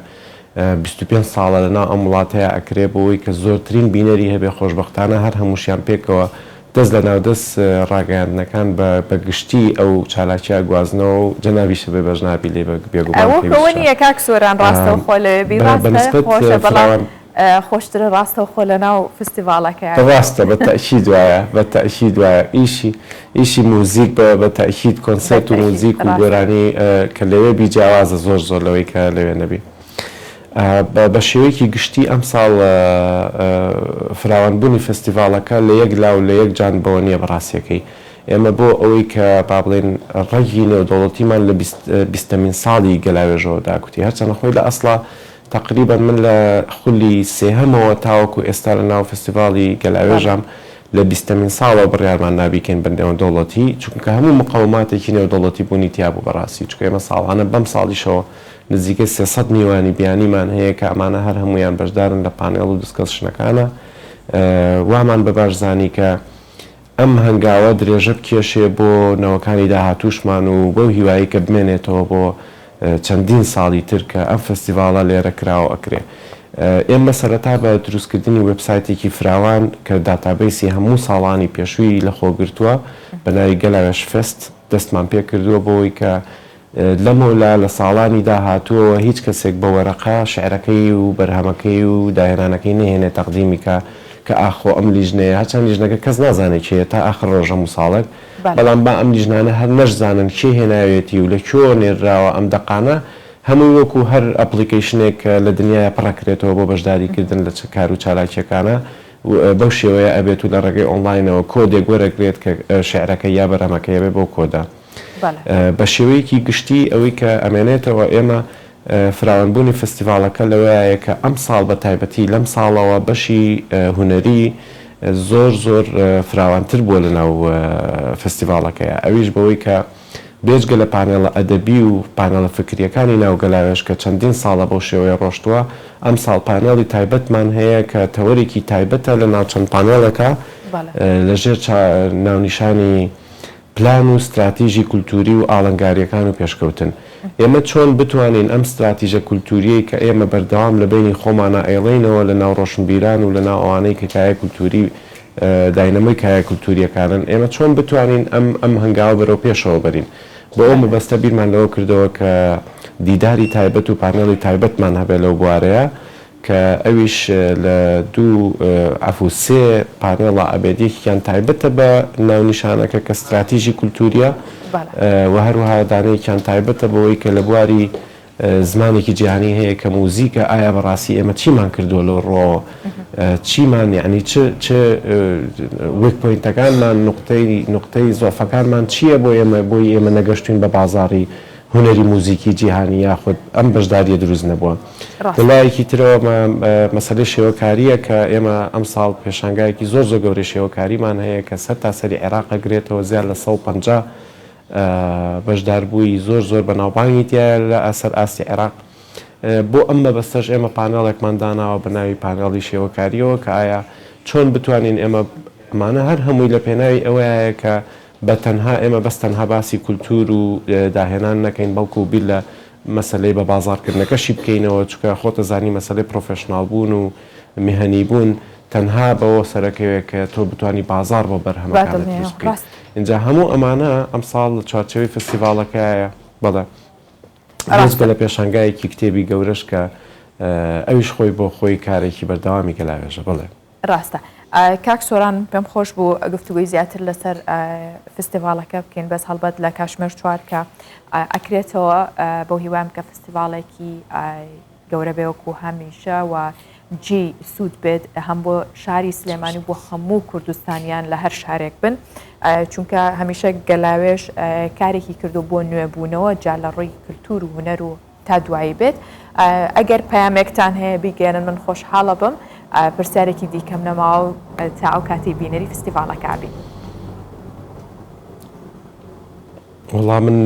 بیست و پێنج ساڵە لەناو ئەم وڵاتەیا ئەکرێ بۆوەی کە زۆرترین بینەری هەبێ خۆشبەختانە هەر هەمووشیان پێکەوە دەست لەناو دەست ڕاگەیاندنەکان بە بە گشتی ئەو چالاکیە ئەگوازنەوە و جەنابیشە بێ بەش نابی لێ بێگومان پێویست چە ئەوە ئەوە نییە کاک سۆران ڕاستەوخۆ لەوێ بی ڕاستە خۆشە بەڵام. خۆشترە ڕاستەوخۆ لەناو فستیڤاڵەکە. ڕاستە بە تەئکید وایە بە تەئکید وایە ئیشی ئیشی موزیک بە بە تەئکید کۆنسێرت و موزیک و گۆرانی کە لەوێ بی جیاوازە زۆر زۆر لەوەی کە لەوێ نەبی بە بە شێوەیەکی گشتی ئەمساڵ فراوانبوونی فستیڤاڵەکە لە یەک لاو لە یەک جان بەوە نییە بە ڕاستیەکەی ئێمە بۆ ئەوەی کە با بڵێن ڕەگی نێودەوڵەتیمان لە بیست بیستەمین ساڵی گەلاوێژەوە داکوتی هەرچەنە خۆی لە ئەسڵا تەقریبەن من لە خولی سێهەمەوە تاوەکو ئێستا لە ناو فستیڤاڵی گەلاوێژام، لە بیستەمین ساڵەوە بڕیارمان نا بیکەین بە نێودەوڵەتی، چونکە هەموو مقەوماتێکی نێودەوڵەتی بوونی تیا بوو بەڕاستی، چونکە ئێمە ساڵانە بەم ساڵیشەوە نزیکەی سێ سەد میوانی بیانیمان هەیە کە ئەمانە هەر هەموویان بەشدارن لە پانێڵ و دسکەسشنەکانا، وامان بە باش زانی کە ئەم هەنگاوە درێژە بکێشێ بۆ نەوەکانی داهاتووشمان و بەو هیوایەی کە بمێنێتەوە بۆ چەندین ساڵی تر کە ئەم فستیڤاڵە لێرە کراو ئەکرێ. ئێمە سەرەتا بە دروستکردنی وێبسایتێکی فراوان کە داتابەیسی هەموو ساڵانی پێشووی لەخۆگرتووە بە ناوی گەلاوێژ فێست دەستمان پێکردووە بۆ ئەوەی کە لەمەولا لە ساڵانی داهاتووەوە هیچ کەسێک بە وەرەقە شعرەکەی و بەرهەمەکەی و داهێنانەکەی نەهێنێ تەقدیمی کا کە ئاخۆ ئەم لیژنەیە، هەرچەند لیژنەکە کەس نازانێ کێیە تا ئاخر ڕۆژ هەموو ساڵێک، بەڵام با ئەم لیژنانە هەر نەشزانن کێ هێناویەتی و لە کوێوە نێردراوە ئەم دەقانە هەمووی وەکوو هەر ئەپڵیکەیشنێک لە دنیایە پڕ ئەکرێتەوە بۆ بەشداری کردن لە کار و چالاکییەکانا و بەو شێوەیە ئەبێت و لە ڕێگەی ئۆنڵاینەوە کۆدێک وەرەگرێت کە شعرەکەی یا بەرهەمەکەی ئەبێ بەو کۆدە بە شێوەیەکی گشتی ئەوەی کە ئەمێنێتەوە ئێمە فراوانبوونی فستیڤاڵەکە لەوەیایە کە ئەمساڵ بە تایبەتی لەم ساڵەوە بەشی هونەری زۆر زۆر فراوانتر بووە لەناو فستیڤاڵەکەیا ئەویش بەوەی کە بێجگە لە پانێڵە ئەدەبی و پانێڵە فکرییەکانی ناو گەلاوێژ کە چەندین ساڵە بەو شێوەیە ڕۆشتووە ئەمساڵ پانێڵی تایبەتمان هەیە کە تەوەرێکی تایبەتە لەناو چەند پانێڵێکا لەژێر ناونیشانی پلان و ستراتیژی کولتووری و ئاڵنگارییەکان و پێشکەوتن. ئێمە چۆن بتوانین ئەم ستراتیژە کولتوورییەی کە ئێمە بەردەوام لە بەینی خۆمانا ئەیڵێینەوە لە ناو ڕۆشنبیران و لە ناو ئەوانەی کە کایە کولتووری داینەمۆی کایە کولتوورییەکانن، ئێمە چۆن بتوانین ئەم ئەم هەنگاوە بەرەو پێشەوە بەرین؟ بۆ ئەو مەبەستە بیرمان لەوە کردەوە کە دیداری تایبەت و پانێڵی تایبەتمان هەبێ لەو بوارەیە کە ئەویش لە دوو عەفو سێ پانێڵە ئەبێت یەکێکیان تایبەتە بە ناونیشانەکە کە ستراتیژی کولتووریە و هەروەها دانەیەکیان تایبەتە بەوەی کە لە بواری زمانێکی جیهانی هەیە کە موزیکە ئایا بەڕاستی ئێمە چیمان کردووە لەو ڕوەوە چیمان یعنی چ چ وێک پۆینتەکانمان نقطەی نقطەی زۆفەکانمان چییە بۆ ئێمە بۆی ئێمە نەگەشتوین بە بازاری هونەری موزیکی جیهانی یاخود ئەم بەشدارییە دروست نەبووە. لە لایەکی ترەوە مەسەلەی شێوەکارییە کە ئێمە ئەمساڵ پێشانگایەکی زۆر زۆر گەورەی شێوەکاریمان هەیە کە سەرتاسەری عێراق ئەگرێتەوە زیاد لە سەد و پەنجا بەشداربووی زۆر زۆر بەناوبانگی تیایە لە سەر ئاستی عێراق. بۆ ئەم مەبەستەش ئێمە پانێڵێکمان داناوە بە ناوی پانێڵی شێوەکارییەوە کە ئایا چۆن بتوانین ئێمە ئەمانە هەر هەمووی لە پێناوی ئەوەیە کە بە تەنها ئێمە بەس تەنها باسی کولتوور و داهێنان نەکەین بەڵکو بیر لە مەسەلەی بە بازاڕ کردنەکەشی بکەینەوە چونکە خۆتەزانی مەسەلەی پرۆفێشناڵ بوون و میهنی بوون تەنها بەوە سەرەکەوێ کە تۆ بتانی بازاڕ بۆ بەرهەمەکانت دروست بکەیت ئینجا هەموو ئەمانە ئەمساڵ لە چوارچێوەی فستیڤاڵەکایە بەڵێ بێجگە لە پێشانگایەکی کتێبی گەورەش کە ئەویش خۆی بۆ خۆی کارێکی بەردەوامی گەلاوێژە بڵێ. ڕاستە کاک سۆران پێم خۆش بوو گفتوگوی زیاتر لەسەر فستیڤاڵەکە بکەین بەس هەڵبەت لە کاشمێر چوار کە ئەکرێتەوە بۆ هیوام کە فستیڤاڵێکی گەورە بێوەکو هەمیشە و جی سوود بێت هەم بۆ شاری سلێمانی بۆ هەموو کوردستانیان لە هەر شارێک بن چونکە هەمیشە گەلاوێش کارێکی کردو بۆ نوێبوونەوە جا لە ڕووی کللتور و هوەر و تا دوایی بێت ئەگەر پەیامێکتان هەیە بیگەێنن من خۆشحاڵە بم پرسیارێکی دیکەم نەماوە تا ئەو کاتی بینەری فستیڤالەکبی وڵا من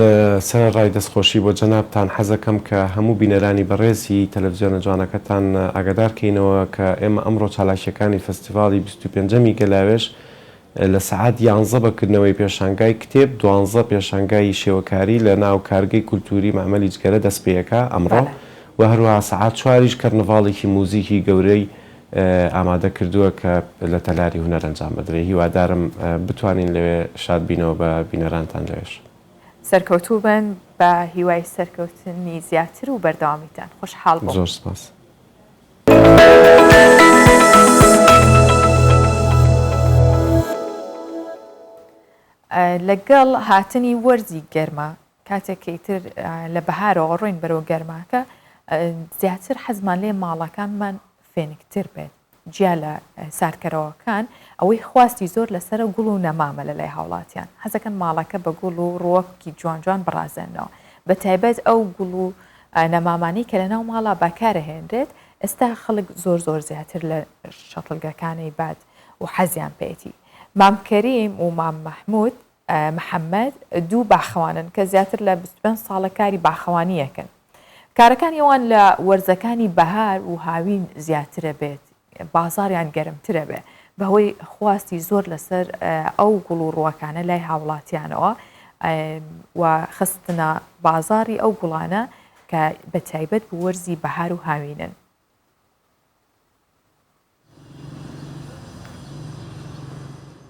سەر ڕای دەستخۆشی بۆ جەنابان حەزەکەم کە هەموو بینەرانی بەڕێزی تەلەڤزیۆنە جوانەکەتان ئاگادارکەینەوە کە ئێمە ئەمڕۆ چالاکیەکانی فستیڤالی 25 گەلاوێش لە سەعات یانزە بە کردنەوەی پێشانگای کتێب، دوانزە پێشانگای شێوەکاری لە ناو کارگەی کولتووری مەعمەلی جگەرە دەست پێ ئەکا ئەمڕۆ و هەروەها سەعات چواریش کەرنڤاڵێکی موزیکی گەورەی ئامادە کردووە کە لە تەلاری هونەر ئەنجام ئەدرێ هیوادارم بتوانین لەوێ شاد بینەوە بە بینەرانتان لەوێش. سەرکەوتوو بن بە هیوای سەرکەوتنی زیاتر و بەردەوامیتان. خۆشحاڵ بووم. زۆر سپاس. لەگەڵ هاتنی وەرزی گەرما کاتێک کە ئیتر لە بەهارەوە ڕۆین بەرەوە گەرماکە زیاتر حەزمان لێ ماڵەکانمان فێنکتر بێت جیا لە ساردکەرەوەکان ئەوەی خواستی زۆر لەسرە گوڵ و نەمامە لە لای هاوڵاتیان حەزەکەن ماڵەکە بە گوڵ و ڕوەکی جوان جوان بڕازێنەوە بە تایبەت ئەو گوڵ و نەمامانەی کە لەناو ماڵا بەکارەهێنرێت ئێستا خەڵک زۆر زۆر زیاتر لە شەتڵگەکانەی باد و حەزیان پێیەتی مام کەریم و مام مەحمود محەمەد دوو باخەوانن کە زیاتر لە بیست و پێنج ساڵە کاری باخەوانییەکەن کارەکانی ئەوان لە وەرزەکانی بەهار و هاوین زیاترە بێت بازاریان گەرمترە بێ بەهۆی خواستی زۆر لەسەر ئەو گوڵ و ڕووەکانە لای هاوڵاتیانەوە و خستنە بازاری ئەو گوڵانە کە بە تایبەت بۆ وەرزی بەهار و هاوینن.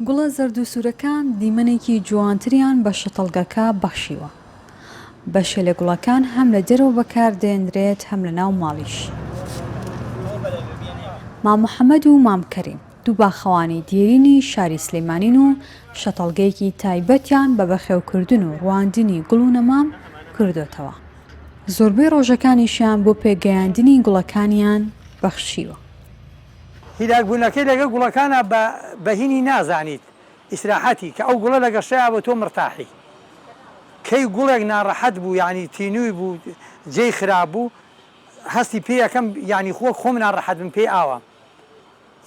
گوڵە زەرد و سوورەکان دیمەنێکی جوانتریان بە شەتەڵگەکە بەخشیوە. بەشێ لە گوڵەکان هەم لە دەرەوە بەکاردێنرێت هەم لە ناو ماڵیش. مام محەمەد و مام کەریم دوو باخەوانی دێرینی شاری سلێمانین و شەتەڵگەیەکی تایبەتیان بە بەخێوکردن و ڕواندنی گوڵ و نەمام کردۆتەوە. زۆربەی ڕۆژەکانیشیان بۆ پێگەیاندنی گوڵەکانیان بەخشیوە. هیلاکبوونەکەی لەگەڵ گوڵەکانا بە بەهینی نازانیت، ئیسراحەتی کە ئەو گوڵە لەگەڵ شەیە بۆ تۆ مرتاحی کەی گوڵێک ناڕەحەت بوو یانی تینووی بوو جێی خراپ بوو هەستی پێ یەکەم یانی خۆک خۆم ناڕەحەت بم پێی ئاوام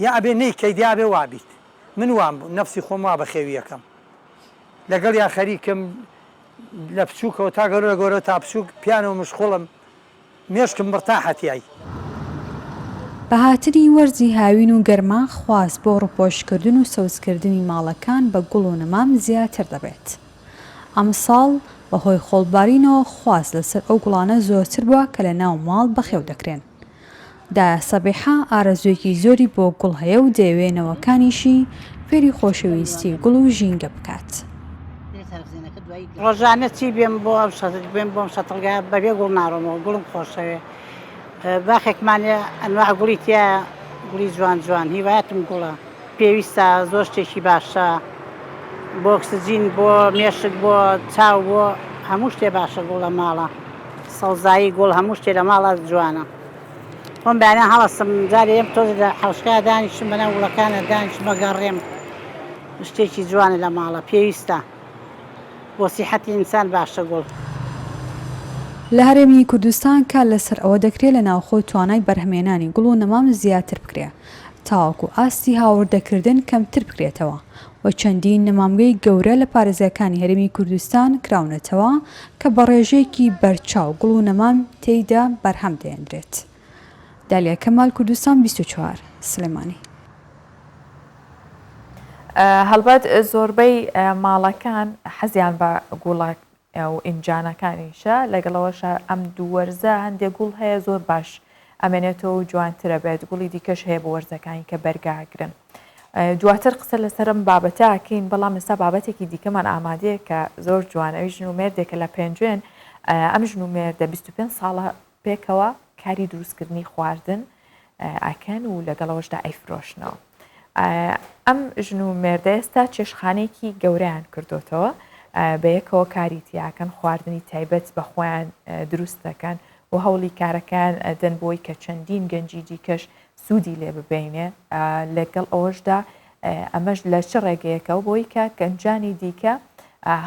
یا ئەبێ نەی کەی دیا بێ وابیت من وام بوو نەفسی خۆم وا بەخێوی یەکەم لەگەڵ یا خەریکم لە بچووکەوە تا گەورە لە گەورە تا بچووک پیانەوە مشخوڵم مێشکم مرتاحە تیای. بە هاتنی وەرزی هاوین و گەرما خواست بۆ ڕوپۆشکردن و سەوزکردنی ماڵەکان بە گوڵ و نەمام زیاتر دەبێت. ئەمساڵ بە هۆی خۆڵبارینەوە خواست لەسەر ئەو گوڵانە زۆرتر بووە کە لە ناو ماڵ بەخێو دەکرێن. دا سەبیحە ئارەزووێکی زۆری بۆ گوڵ هەیە و دەیەوێ نەوەکانیشی فێری خۆشەویستی گوڵ و ژینگە بکات. ڕۆژانە چی بێم بۆ ئەم شەتڵ بێم بۆم شەتڵگا بەبێ گوڵ ناڕۆمەوە گوڵم خۆشەوێ باخێکمان هەیە ئەنواع گوڵی تیا گوڵی جوان جوان هیوایەتم گوڵە پێویستە زۆر شتێکی باشە بۆ ئۆکسجین بۆ مێشک بۆ چاو بۆ هەموو شتێ باشە گوڵە ماڵە سەوزایی گوڵ هەموو شتێ لە ماڵە جوانە. خۆم بەیانیان هەڵەستم جارێ یەم تۆزێ لە حەوشکا دانیشتم بەناو گوڵەکانە دانیشتم بەگەڕێم شتێکی جوانە لە ماڵە پێویستە بۆ سیحەتی ئینسان باشە گوڵ. لە هەرێمی کوردستان کار لەسەر ئەوە دەکرێت لە ناوخۆ توانای بەرهەمهێنانی گوڵ و نەمام زیاتر بکرێت تاوەکو ئاستی هاوردەکردن کەمتر بکرێتەوە و چەندین نەمامگەی گەورە لە پارێزگاکانی هەرێمی کوردستان کراونەتەوە کە بە ڕێژەیەکی بەرچاو گوڵ و نەمام تێیدا بەرهەم دەهێندرێت. دالیا کەمال، کوردستان بیست و چوار، سلێمانی. هەڵبەت زۆربەی ماڵەکان حەزیان بە گوڵە و ئینجانەکانیشە لەگەڵ ئەوەشە ئەم دوو وەرزە هەندێک گوڵ هەیە زۆر باش ئەمێنێتەوە و جوانترە بێت گوڵی دیکەش هەیە بۆ وەرزەکانی کە بەرگاگرن دواتر قسە لەسەر ئەم بابەتە ئەکەین بەڵام ئێستا بابەتێکی دیکەمان ئامادەیە کە زۆر جوان ئەوی ژن و مێردێکە لە پێنجوێن ئەم ژن و مێردە 25 ساڵە پێکەوە کاری دروستکردنی خواردن ئەکەن و لەگەڵەوەشدا ئەیفرۆشنەوە ئەم ژن و مێردە ئێستا چێشخانێکی گەوریان کردوتەوە بە یەکەوە کاری تیاکەن خواردنی تایبەت بە خۆیان دروست دەکەن و هەوڵی کارەکان ئەدەن بۆی کە چەندین گەنجی دیکەش سوودی لێ ببینێ، لەگەڵ ئەوەشدا ئەمەش لە چ ڕێگەیەکەوە بۆی کە گەنجانی دیکە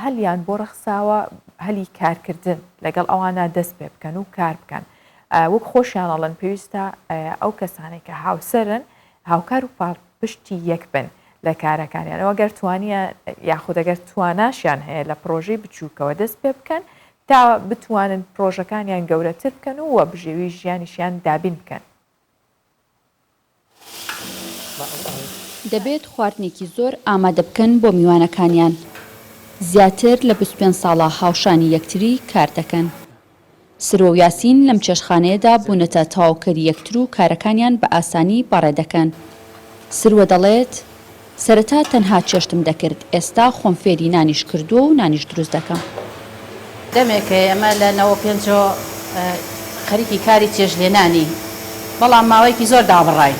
هەلیان بۆ ڕەخساوە هەلی کارکردن لەگەڵ ئەوانە دەست پێ بکەن و کار بکەن وەک خۆشیان ئەڵەن پێویستە ئەو کەسانێک کە هاوسەرن هاوکار و پاڵ پشتی یەک بن لە کارەکانیانەوە گەر توانیە یاخودەگەر تواناشیان هەیە لە پرۆژەی بچووکەوە دەست پێ بکەن تا بتوانن پرۆژەکانیان گەورەتر بکەن و وە بژێوی ژیانیشیان دابین بکەن دەبێت خواردنێکی زۆر ئامادە بکەن بۆ میوانەکانیان، زیاتر لە بیست و پێنج ساڵە هاوشانی یەکتری کار دەکەن. سرۆ و یاسین لەم چێشتخانەیەدا بوونەتە تەواوکەری یەکتر و کارەکانیان بە ئاسانی بەڕێ دەکەن. سروە دەڵێت، سەرەتا تەنها چێشتم دەکرد ئێستا خۆم فێری نانیش کردووە و نانیش دروست دەکەم. دەمێکە ئێمە لە نەوەد و پێنج ەوە خەریکی کاری چێشتلێنانین بەڵام ماوەیەکی زۆر دابڕاین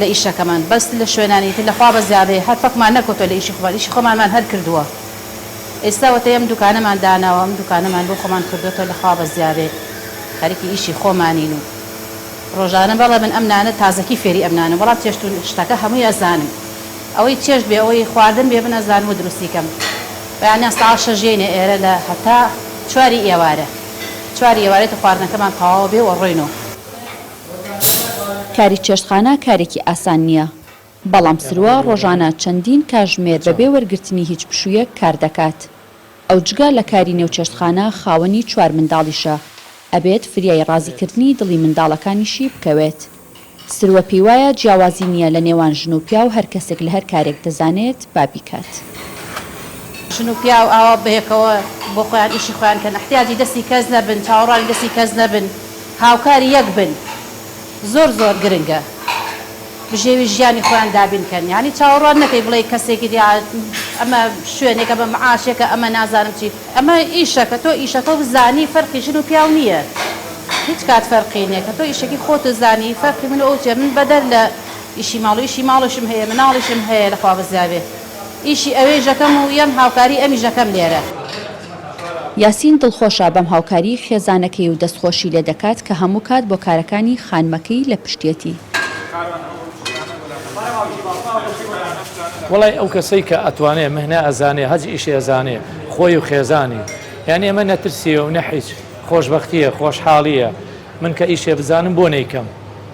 لە ئیشەکەمان بەس لە شوێنانی تر لە خوا بە زیادەیە هەر پەکمان نەکەوتووە لە ئیشی خۆمان ئیشی خۆمانمان هەر کردووە ئێستا وەتەی ئەم دوکانەمان داناوە ئەم دوکانەمان بۆ خۆمان کردۆتەوە لە خوا بە زیادەیە خەریکی ئیشی خۆمانین و ڕۆژانە بەڵێ من ئەم نانە تازەکی فێری ئەم نانەم بەڵام چێشت و شتەکە هەمووی ئەزانم ئەوەی چێشت بێ ئەوەی خواردن بێ من ئەزانم و دروستی کەم بەیانیان سەعات شەش یەینە ئێرە لە هەتا چواری ئێوارە چواری ئێوارەی تۆ خواردنەکەمان تەواوە بێ و ئەڕۆین و. کاری چێشتخانە کارێکی ئاسان نییە بەڵام سروە ڕۆژانە چەندین کاژمێر بەبێ وەرگرتنی هیچ پشوویەک کار دەکات. ئەو جگە لە کاری نێو چێشتخانە خاوەنی چوار منداڵیشە، ئەبێت فریای ڕازیکردنی دڵی منداڵەکانیشی بکەوێت. سروە پێیوایە جیاوازی نییە لە نێوان ژن و پیاو هەر کەسێک لە هەر کارێک دەزانێت با بیکات. ژن و پیاو ئاوا بەیەکەوە بۆ خۆیان ئیشی خۆیان کەن، ئیحتیاجی دەستی کەس نەبن، چاوەڕوانی دەستی کەس نەبن، هاوکاری یەک بن. زۆر زۆر گرنگە بژێوی ژیانی خۆیان دابین کەن یانی چاوەڕوان نەکەی بڵێی کەسێکی دی ئەمە شوێنێکە بە معاشێکە ئەمە نازانم چی ئەمە ئیشە کە تۆ ئیشەکە و زانی فەرقی ژن و پیاو نییە هیچ کات فەرقی نیە کە تۆ ئیشەکی خۆت و زانی فەرقی من ئەو چێ من بەدەر لە ئیشی ماڵ و ئیشی ماڵشم هەیە مناڵیشم هەیە لە خوا بزیاێ ئیشی ئەوێ ژەکەم و یەم هاوکاری ئەمی ژەکەم لێرە یاسین دڵخۆشە بەم هاوکاریی خێزانەکەی و دەستخۆشی لێ دەکات کە هەموو کات بۆ کارەکانی خانمەکەی لە پشتیەتی. وەڵای ئەو کەسەی کە ئەتوانێ مهنە ئەزانێ هەج ئیشێ ئەزانێ خۆی و خێزانی یانی ئەمە نەترسیە و نە حیچ خۆشبەختیە خۆشحاڵیە من کە ئیشێ بزانم بۆ نەیکەم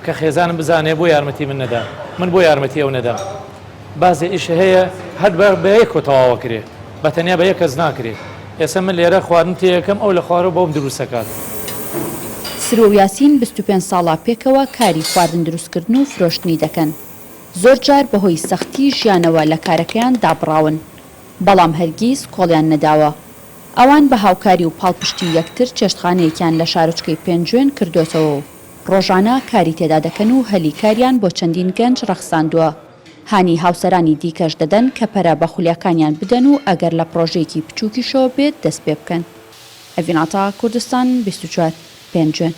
کە خێزانم بزانێ بۆ یارمەتی من نەدا من بۆ یارمەتی ئەو نەدەم بازێ ئیش هەیە هەر بە بە یەکەوە تەواو ئەکرێ بە تەنیا بە یەک کەس ناکرێ ئێستا من لێرە خواردن تێ ئەکەم ئەو لە خوارەوە بۆم دروست ئەکات. سروە و یاسین بیست و پێنج ساڵە پێکەوە کاری خواردن دروست کردن و فرۆشتنی دەکەن زۆر جار بە هۆی سەختی ژیانەوە لە کارەکەیان دابڕاون بەڵام هەرگیز کۆڵیان نەداوە ئەوان بە هاوکاری و پاڵپشتی یەکتر چێشتخانەیەکیان لە شارۆچکەی پێنجوێن کردۆتەوە و ڕۆژانە کاری تێدا دەکەن و هەلی کاریان بۆ چەندین گەنج ڕەخساندووە، هانی هاوسەرانی دیکەش دەدەن کە پەرە بە خولیاکانیان بدەن و ئەگەر لە پڕۆژەیەکی بچووکیشەوە بێت دەست پێ بکەن. ئەڤین عەتا، کوردستان بیست و چوار، پێنجوێن.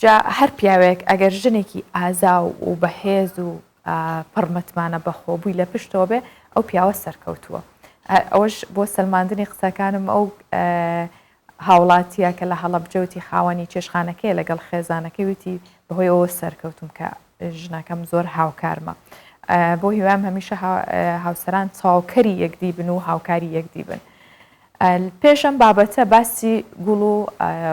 جا هەر پیاوێک ئەگەر ژنێکی ئازاو و بەهێز و پڕ متمانە بەخۆبووی لە پشتەوە بێ ئەو پیاوە سەرکەوتووە. ئەوەش بۆ سەلماندنی قسەکانم ئەو هاوڵاتییەکە لە هەڵەبجە وتی، خاوەنی چێشتخانەکەیە لەگەڵ خێزانەکەی وتی، بەهۆی ئەوە سەرکەوتووم کە ژنەکەم زۆر هاوکارمە. بۆ هیوایم هەمیشە هاوسەران چاوکەری یەکدی بن و هاوکاری یەکدی بن. پێش ئەم بابەتە باسی گوڵ و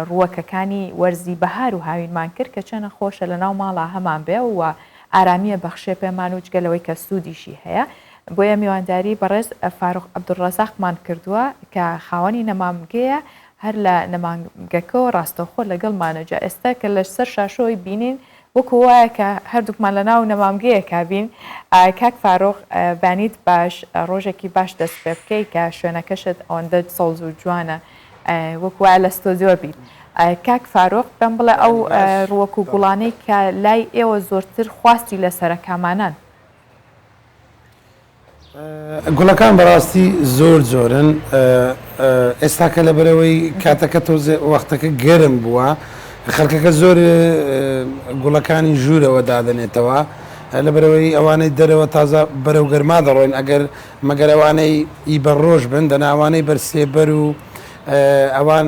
ڕووەکەکانی وەرزی بەهار و هاوینمان کرد کە چەنە خۆشە لەناو ماڵا هەمان بێ و ئارامیە بەخشێ پێمان و جگە لەوەی کە سوودیشی هەیە بۆیە میوانداری بەڕێز فاروق عبدالرزاقمان کردووە کە خاوەنی نەمامگەیە هەر لە نەمامگەکەوە ڕاستەوخۆ لەگەڵمانە جا ئێستا کە لە سەر شاشەوەی بینین وەکو وایە کە هەردووکمان لە ناو نەمامگەیەکا بین کاک فاروق بانیت باش ڕۆژێکی باش دەست پێ بکەی کە شوێنەکەشت ئەوەندە سەوز و جوانە وەکو وایە لە ستۆدیۆ بیت کاک فاروق پێم بڵێ ئەو ڕوەک و گوڵانەی کە لای ئێوە زۆرتر خواستی لەسەرە کامانان گوڵەکان بەڕاستی زۆر زۆرن ئێستاکە لە بەرەوەی کاتەکە تۆزێ وەختەکە گەرم بووە خەکەکە زۆر گوڵەکانی ژوورەوە دادنێتەوە لە بەرەوەی ئەوانەی دەرەوە تازە بەرەو گەرما دەڕۆین ئەگەر مەگەرەوانەی ئی بە ڕۆژ بن دەناوانەی بەرسێبەر و ئەوان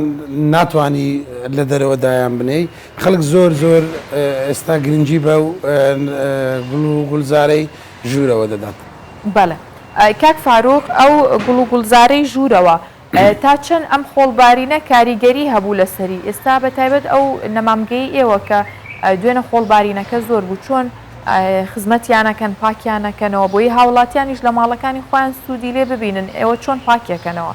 ناتوانی لە دەرەوە دایان بنێی خەلک زۆر زۆر ئێستا گرنگی بەو گوڵ و گوڵزارەی ژوورەوە دەدەن. بەڵێ کاک فاروق ئەو گوڵ و گوڵزارەی ژوورەوە تا چەند ئەم خۆڵبارینە کاریگەری هەبوو لەسەری ئێستا بە تایبەت ئەو نەمامگەی ئێوە کە دوێنە خۆڵبارینەکە زۆر بوو چۆن خزمەتیانەکەن پاکیانەکەنەوە بۆیی هاوڵاتیانیش لە ماڵەکانی خۆیان سوودی لێ ببینن ئێوە چۆن پاکیەکەنەوە؟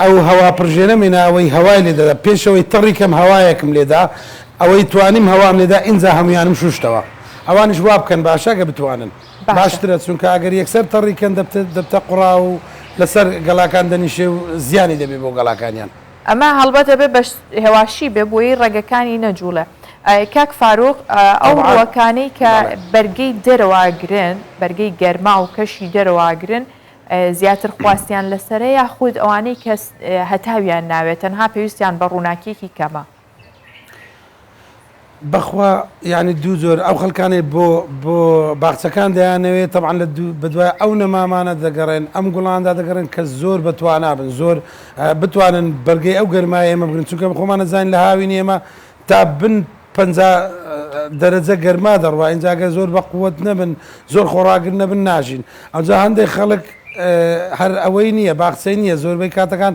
ئەو هەواپڕژێنەم هێنا ئەوەی هەوای لێدەدا پێش ئەوەی تەڕی کەم هەوایەکم لێدا ئەوەی توانیم هەوام لێدا ئینجا هەموویانم شوشتەوە ئەوانیش وابکەن باشە گە بتوانن باشترە چونکە ئەگەر یەکسەر تەڕی کەن دەبتە قوڕا و لەسەر گەڵاکان دەنیشێ و زیانی دەبێ بۆ گەڵاکانیان. ئەمە هەڵبەت ئەبێ بە هێواشی بێ بۆیی ڕەگەکانی نەجوڵێ ئەی کاک فاروق ئەو ڕووەکانەی کە بەرگەی دەرەوە ئەگرن بەرگەی گەرما و کەشی دەرەوە ئەگرن زیاتر خواستیان لەسەرە یاخود ئەوانەی کە هەتاویان ناوێت تەنها پێویستیان بە ڕووناکیەکی کەمە؟ بەخوا یعنی دوو جۆر ئەو خەلکانەی بۆ بۆ باخچەکان دەیانەوێت تەبعاان لە بەدوای ئەو نەمامانە دەگەڕێن ئەم گوڵاندا دەگەڕێن کە زۆر بەتوانابن زۆر بتوانن بەرگەی ئەو گەرمای ئێمە بگرن چونکە خۆمانەزانین لە هاوینی ئێمە تا بن پەنجا دەرەجە گەرما دەڕوا ئینجا گەر زۆر بە قوت نەبن زۆر خۆڕاگر نەبن ناژین ئەوجا هەندێک خەڵک هەر ئەوەی نییە باخچەی نییە زۆربەی کاتەکان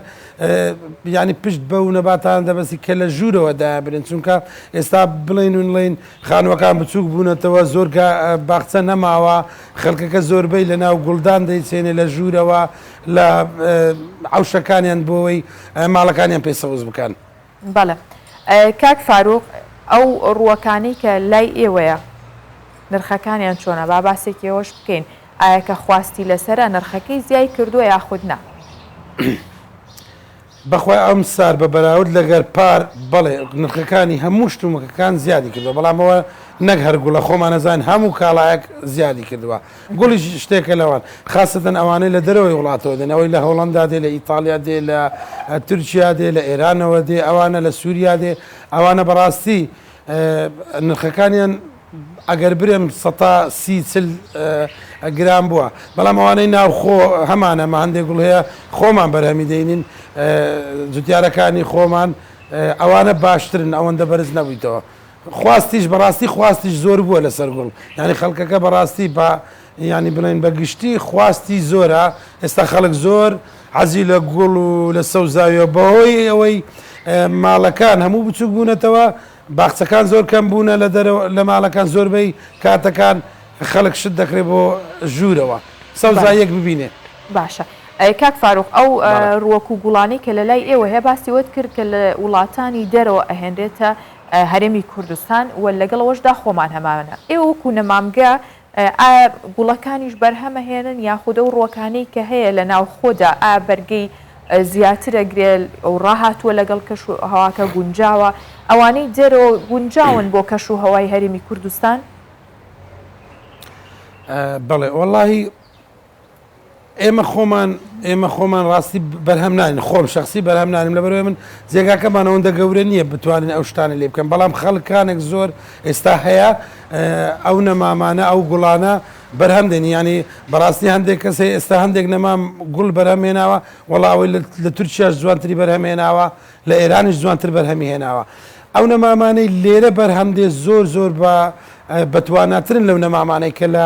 ینی پشت بە و نەباتان دەبەستی کە لە ژوورەوە دابرن چونکە ئێستا بڵین و نڵین خانوەکان بچووک بوونەتەوە زۆر باخچە نەماوە خەڵکەکە زۆربەی لە ناو گوڵدان دەیچێنێ لە ژوورەوە لە عوشەکانیان بۆەوەی ماڵەکانیان پێ سەوز بکەن. بەڵێ کاک فاروق ئەو ڕووەکانەی کە لای ئێوەیە نرخەکانیان چۆنە با باسێکی ئەوەش بکەین ئایا کە خواستی لەسرە نرخەکەی زیای کردووە یاخود نا؟ بەخوای ئەم سار بە بەراورد لەگەر پار بەڵێ نرخەکانی هەموو شتومەکەکان زیادی کردوە بەڵام ئەوە نەک هەر گوڵە خۆمانەزان هەموو کاڵایەک زیادی کردوە گوڵیش شتێکە لەوان خاستەن ئەوانەی لە دەرەوەی وڵاتەوە دێن ئەوەی لە هۆڵەندا دێ لە ئیتاڵیا دێ لە تورکیا دێ لە ئێرانەوە دێ ئەوانە لە سووریا دێ ئەوانە بەڕاستی نرخەکانیان ئەگەر برێم سەتا سی چل گران بووە بەڵام ئەوانەی ناوخۆ هەمانە مە هەندێک گوڵ هەیە خۆمان بەرهەمی دەینین جوتیارەکانی خۆمان ئەوانە باشترن ئەوەندە بەرز نەبوویتەوە خواستیش بەڕاستی خواستیش زۆر بووە لەسەر گوڵ یانی خەڵکەکە بەڕاستی بە ینی بڵێن بە گشتی خواستی زۆرە ئێستا خەڵک زۆر عزی لە گوڵ و لە سەوزاویە بەهۆی ئەوەی ماڵەکان هەموو بچوک بوونەتەوە باخچەکان زۆر کەم بوونە لە دەرەوە لە ماڵەکان زۆربەی کاتەکان خەڵک شت دەکرێت بۆ ژوورەوە سەوزایەک ببینێ باشە کاک فاروق ئەو ڕوەک و گوڵانی کە لە لای ئێوە هەیە باسی وت کرد کە لە وڵاتانی دەرەوە ئەهێنرێتە هەرێمی کوردستان و لەگەڵ ئەوەشدا خۆمان هەمانە ئێوە وەکو نەمامگە ئایا گوڵەکانیش بەرهەمە هێنن یاخود ئەو ڕوەکانەی کە هەیە لە ناو خۆدا ئا بەرگەی زیاترە گرێ و ڕاهاتووە لەگەڵ کەش و هەواکە گونجاوە ئەوانەی دەرەوە گونجاون بۆ کەش و هەوای هەرێمی کوردستان؟ بەڵێ وەڵاهی ئێمە خۆمان ئێمە خۆمان ڕاستی بەرهەم ناین خۆم شخصی بەرهەم نانم لە بەرەوەی من جێگاکەمان ئەوەندە گەورە نییە بتوانین ئەو شتانە لێ بکەن بەڵام خەڵکانێک زۆر ئێستا هەیە ئەو نەمامانە ئەو گوڵانە بەرهەم دێنی ینی بەڕاستی هەندێک کەسێ ئێستا هەندێک نەمام گوڵ بەرهەمێناوە وەڵاوەی لە تورکیاش جوانتری بەرهەمێناوە لە ئێرانیش جوانتر بەرهەمی هێناوە ئەو نەمامانەی لێرە بەرهەم دێ زۆر زۆر بە بەتواناترن لەو نەمامانەی کە لە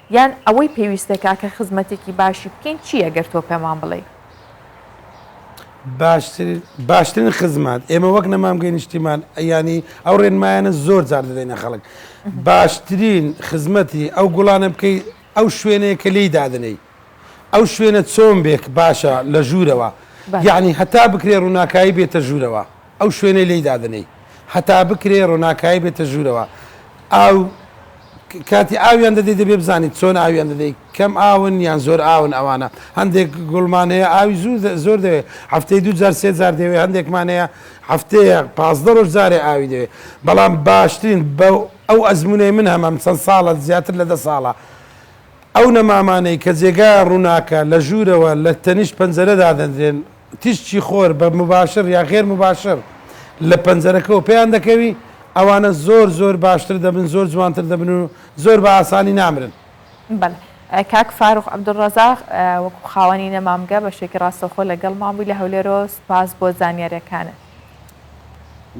یان ئەوەی پێویستەکا کە خزمەتێکی باشی بکەین چییە گەر تۆ پێمان بڵێی؟ باشترین باشترین خزمەت ئێمە وەک نەمامگەی نیشتیمان یانی ئەو ڕێنمایانە زۆر جار دەدەینە خەڵک باشترین خزمەتی ئەو گوڵانە بکەیت ئەو شوێنەیە کە لی دادنەی ئەو شوێنە چۆن بێک باشە لە ژوورەوە یعنی هەتا بکرێ ڕووناکایی بێتە ژوورەوە ئەو شوێنەی لێی دادەنێی هەتا بکرێ ڕۆناکایی بێتە ژوورەوە ئاو کاتی ئاویان دەدەی دەبێ بزانیت چۆن ئاویان دەدەی کەم ئاون یان زۆر ئاون ئەوانە هەندێک گوڵمان هەیە ئاوی زوو زۆر دەوێ هەفتەی دوو جار سێ جار دەوێ هەندێکمان هەیە هەفتەیە پازدە ڕۆژ جارێ ئاوی دەوێ بەڵام باشترین بە ئەو ئەزمونەی من هەمەم چەند ساڵە زیاتر لە دە ساڵە ئەو نەمامانەی کە جێگایان ڕووناکە لە ژوورەوە لە تەنیشت پەنجەرە دادەنرێن تیشکی خۆر بە مباشر یا غێر مباشر لە پەنجەرەکەوە پێیان دەکەوی، ئەوانە زۆر زۆر باشتر دەبن، زۆر جوانتر دەبن و زۆر بە ئاسانی نامرن. بەڵێ. کاک فاروق عبدالرزاق وەکو خاوەنی نەمامگە بە شێکی ڕاستەوخۆ لە گەڵمان بووی لە هەولێرەوە سوپاس بۆ زانیاریەکانت.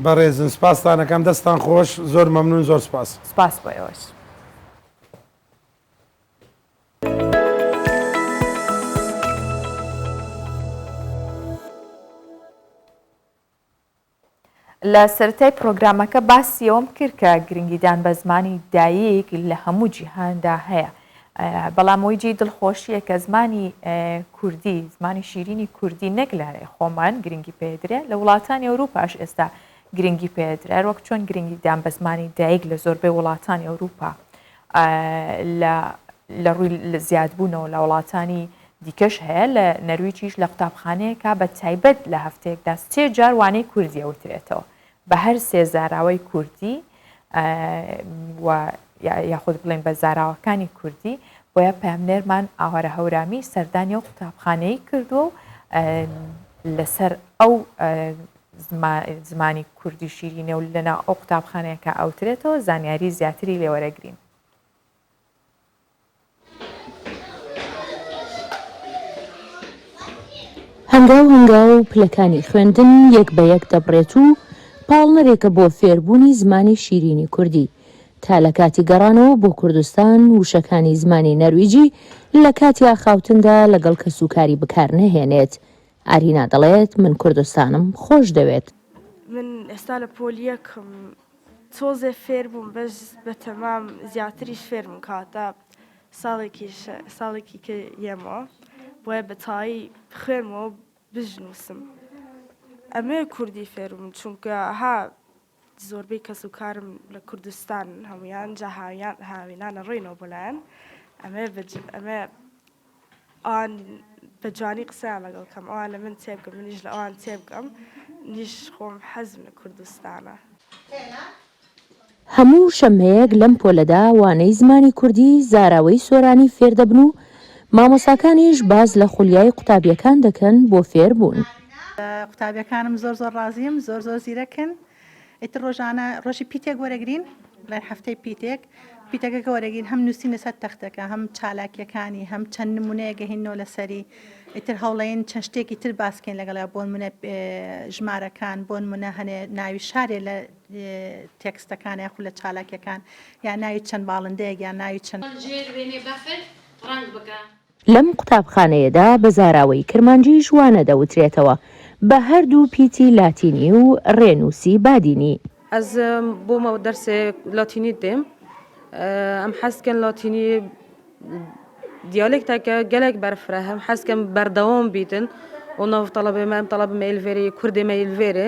بەڕێزن سوپاستان ئەکەم دەستتان خۆش زۆر مەمنون زۆر سوپاس. سوپاس بۆ ئێوەش. لە سەرەتای پرۆگرامەکە باسی ئەوەم کرد کە گرنگیدان بە زمانی دایک لە هەموو جیهاندا هەیە بەڵام ئەوی جێی دڵخۆشیە کە زمانی کوردی زمانی شیرینی کوردی نەک لە خۆمان گرنگی پێدرێ لە وڵاتانی ئەوروپاش ئێستا گرنگی پێدرار وەک چۆن گرنگیدان بە زمانی دایک لە زۆربەی وڵاتانی ئەوروپا لە لە ڕووی لە زیادبوونەوە لە وڵاتانی دیکەش هەیە لە نەرویجیش لە قوتابخانەیەکا بە تایبەت لە هەفتەیەکدا سێ جار وانەی کوردی ئەوترێتەوە بە هەر سێ زاراوەی کوردی و یاخود بڵێن بە زاراوەکانی کوردی بۆیە پامنێرمان ئاوارە هەورامی سەردانی و قوتابخانەی کردووە و لەسەر ئەو زمانی کوردی شیرینە و لەناو ئەو قوتابخانەیە کە ئەوترێتەوە زانیاری زیاتری لێ وەرەگرین. هەنگاو هەنگاو پلەکانی خوێندن یەک بە یەک دەبڕێت و پاڵنەرێکە بۆ فێربوونی زمانی شیرینی کوردی، تا لە کاتی گەڕانەوە بۆ کوردستان وشەکانی زمانی نەرویجی لە کاتی ئاخاوتندا لەگەڵ کەسوکاری بکار نەهێنێت، ئارینا دەڵێت، من کوردستانم خۆشدەوێت. من ئێستا لە پۆل یەکم تۆزێ فێربووم بەس بەتەمام زیاتریش فێرم کە هەتا ساڵێکیش ساڵێکی کە یەمەوە بۆیە بەتەواوی بخوێنمەوە بژنووسم ئەمەوێ کوردی فێربم چونکە ها زۆربەی کەس و کارم لە کوردستان هەموویان جا هاویان هاوینانە ڕۆینەوە بۆ لایان ئەمەیە بە ئەمەیە ئەوان بە جوانی قسەیان لەگەڵ کەم ئەوان لە من تێبگەم منیش لە ئەوان تێبگەم نیش خۆم حەزم لە کوردستانە. هەموو شەممەیەک لەم پۆلەدا وانەی زمانی کوردی زاراوەی سۆرانی فێردەبن و مامۆساکانیش باس لە خولیای قوتابیەکان دەکەن بۆ فێربوون. لە قوتابیەکانم زۆر زۆر ڕازیم زۆر زۆر زیرەکن ئیتر ڕۆژانە ڕۆژی پیتێک وەرەگرین لای هەفتەی پیتێک پیتەکەکە وەرەگین هەم نووسین لەسەر تەختەکە هەم چالاکیەکانی هەم چەند نمونەیە گەهینەوە لەسەری ئیتر هەوڵین چەند شتێکی تر باسکەین لەگەڵیا بۆن منە ژمارەکان بۆن منە هەنێ ناوی شارێ لە تێکستەکان یاخو لە چالاکیەکان یا ناوی چەند باڵندەیەک یا ناوی چەند ڕەنگ بکە. لەم قوتابخانەیەدا بە زاراوەی کرمانجیش وانە دەوترێتەوە، بە هەر دوو پیتی لاتینی و رێنووسی بادینی. ئەز بۆ مە دەرسێ لاتینی دێم ئەم حەز کەن لاتینی دیالێکتەکە گەلێک بەرفرە هەم حەز کەم بەردەوام بیتن و ناو تەڵەبێ مەم تەڵەب مەیلڤێری کوردێ مەیلڤێرێ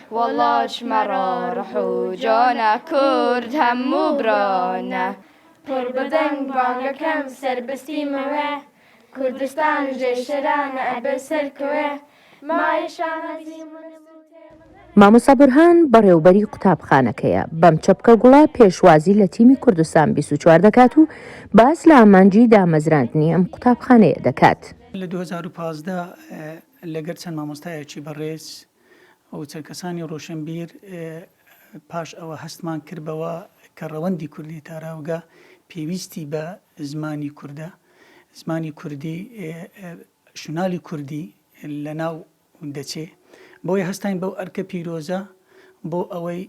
وەڵاش مەڕۆ ڕح و جۆنە کورد هەموو برۆنە. پر بە دەنگ بانگەکەم سەر بستیمەوە کوردستان ژێ شەرانە ئەبێ سەر کەوێ مایە شانە زیمنە مامۆستا بورهان بەڕێوبەری قوتابخانەکەیە، بەم چەپکە گوڵە پێشوازی لە تیمی کوردستان 24 دەکات و باس لە ئامانجی دامەزراندنی ئەم قوتابخانەیە دەکات. لە دوو هەزار و پازدە لەگەر چەند مامۆستایەکی بەڕێز و چەند کەسانی ڕۆشنبیر پاش ئەوە هەستمان کرد بەوە کە ڕەوەندی کوردی تاراوگە پێویستی بە زمانی کوردە، زمانی کوردی شونالی کوردی لەناو دەچێ، بۆیە هەستاین بەو ئەرکە پیرۆزە بۆ ئەوەی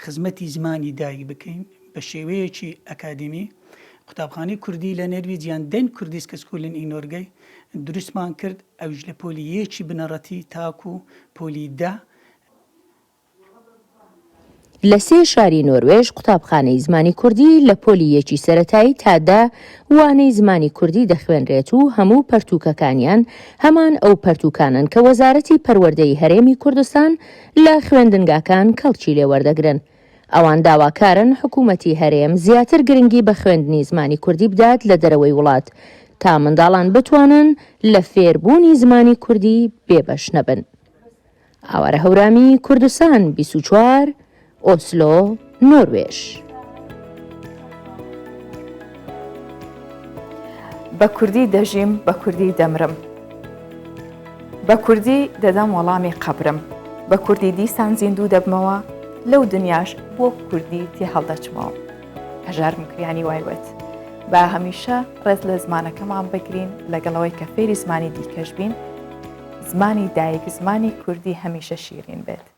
خزمەتی زمانی دایک بکەین بە شێوەیەکی ئەکادیمی، قوتابخانەی کوردی لە نەرویج یان دەن کوردیسکە سکولن ئی نۆرگەی، دروستمان کرد ئەویش لە پۆلی یەکی بنەڕەتی تاکو پۆلی دە. لە سێ شاری نۆروێژ قوتابخانەی زمانی کوردی لە پۆلی یەکی سەرەتایی تا دە وانەی زمانی کوردی دەخوێنرێت و هەموو پەرتووکەکانیان هەمان ئەو پەرتووکانەن کە وەزارەتی پەروەردەی هەرێمی کوردستان لە خوێندنگاکان کەڵکی لێ وەردەگرن. ئەوان داواکارن حکوومەتی هەرێم زیاتر گرنگی بە خوێندنی زمانی کوردی بدات لە دەرەوەی وڵات، تا منداڵان بتوانن لە فێربوونی زمانی کوردی بێبەش نەبن. ئاوارە هەورامی، کوردستان بیست و چوار، ئۆسلۆ، نۆروێژ. بە کوردی دەژیم بە کوردی دەمرم بە کوردی دەدەم وەڵامی قەبرم بە کوردی دیسان زیندوو دەبمەوە لەو دنیاش بۆ کوردی تێ هەڵدەچمەوە هەژار مکریانی وایوت با هەمیشە ڕێز لە زمانەکەمان بگرین لەگەڵەوەی کە فێری زمانی دیکەش بین زمانی دایک زمانی کوردی هەمیشە شیرین بێت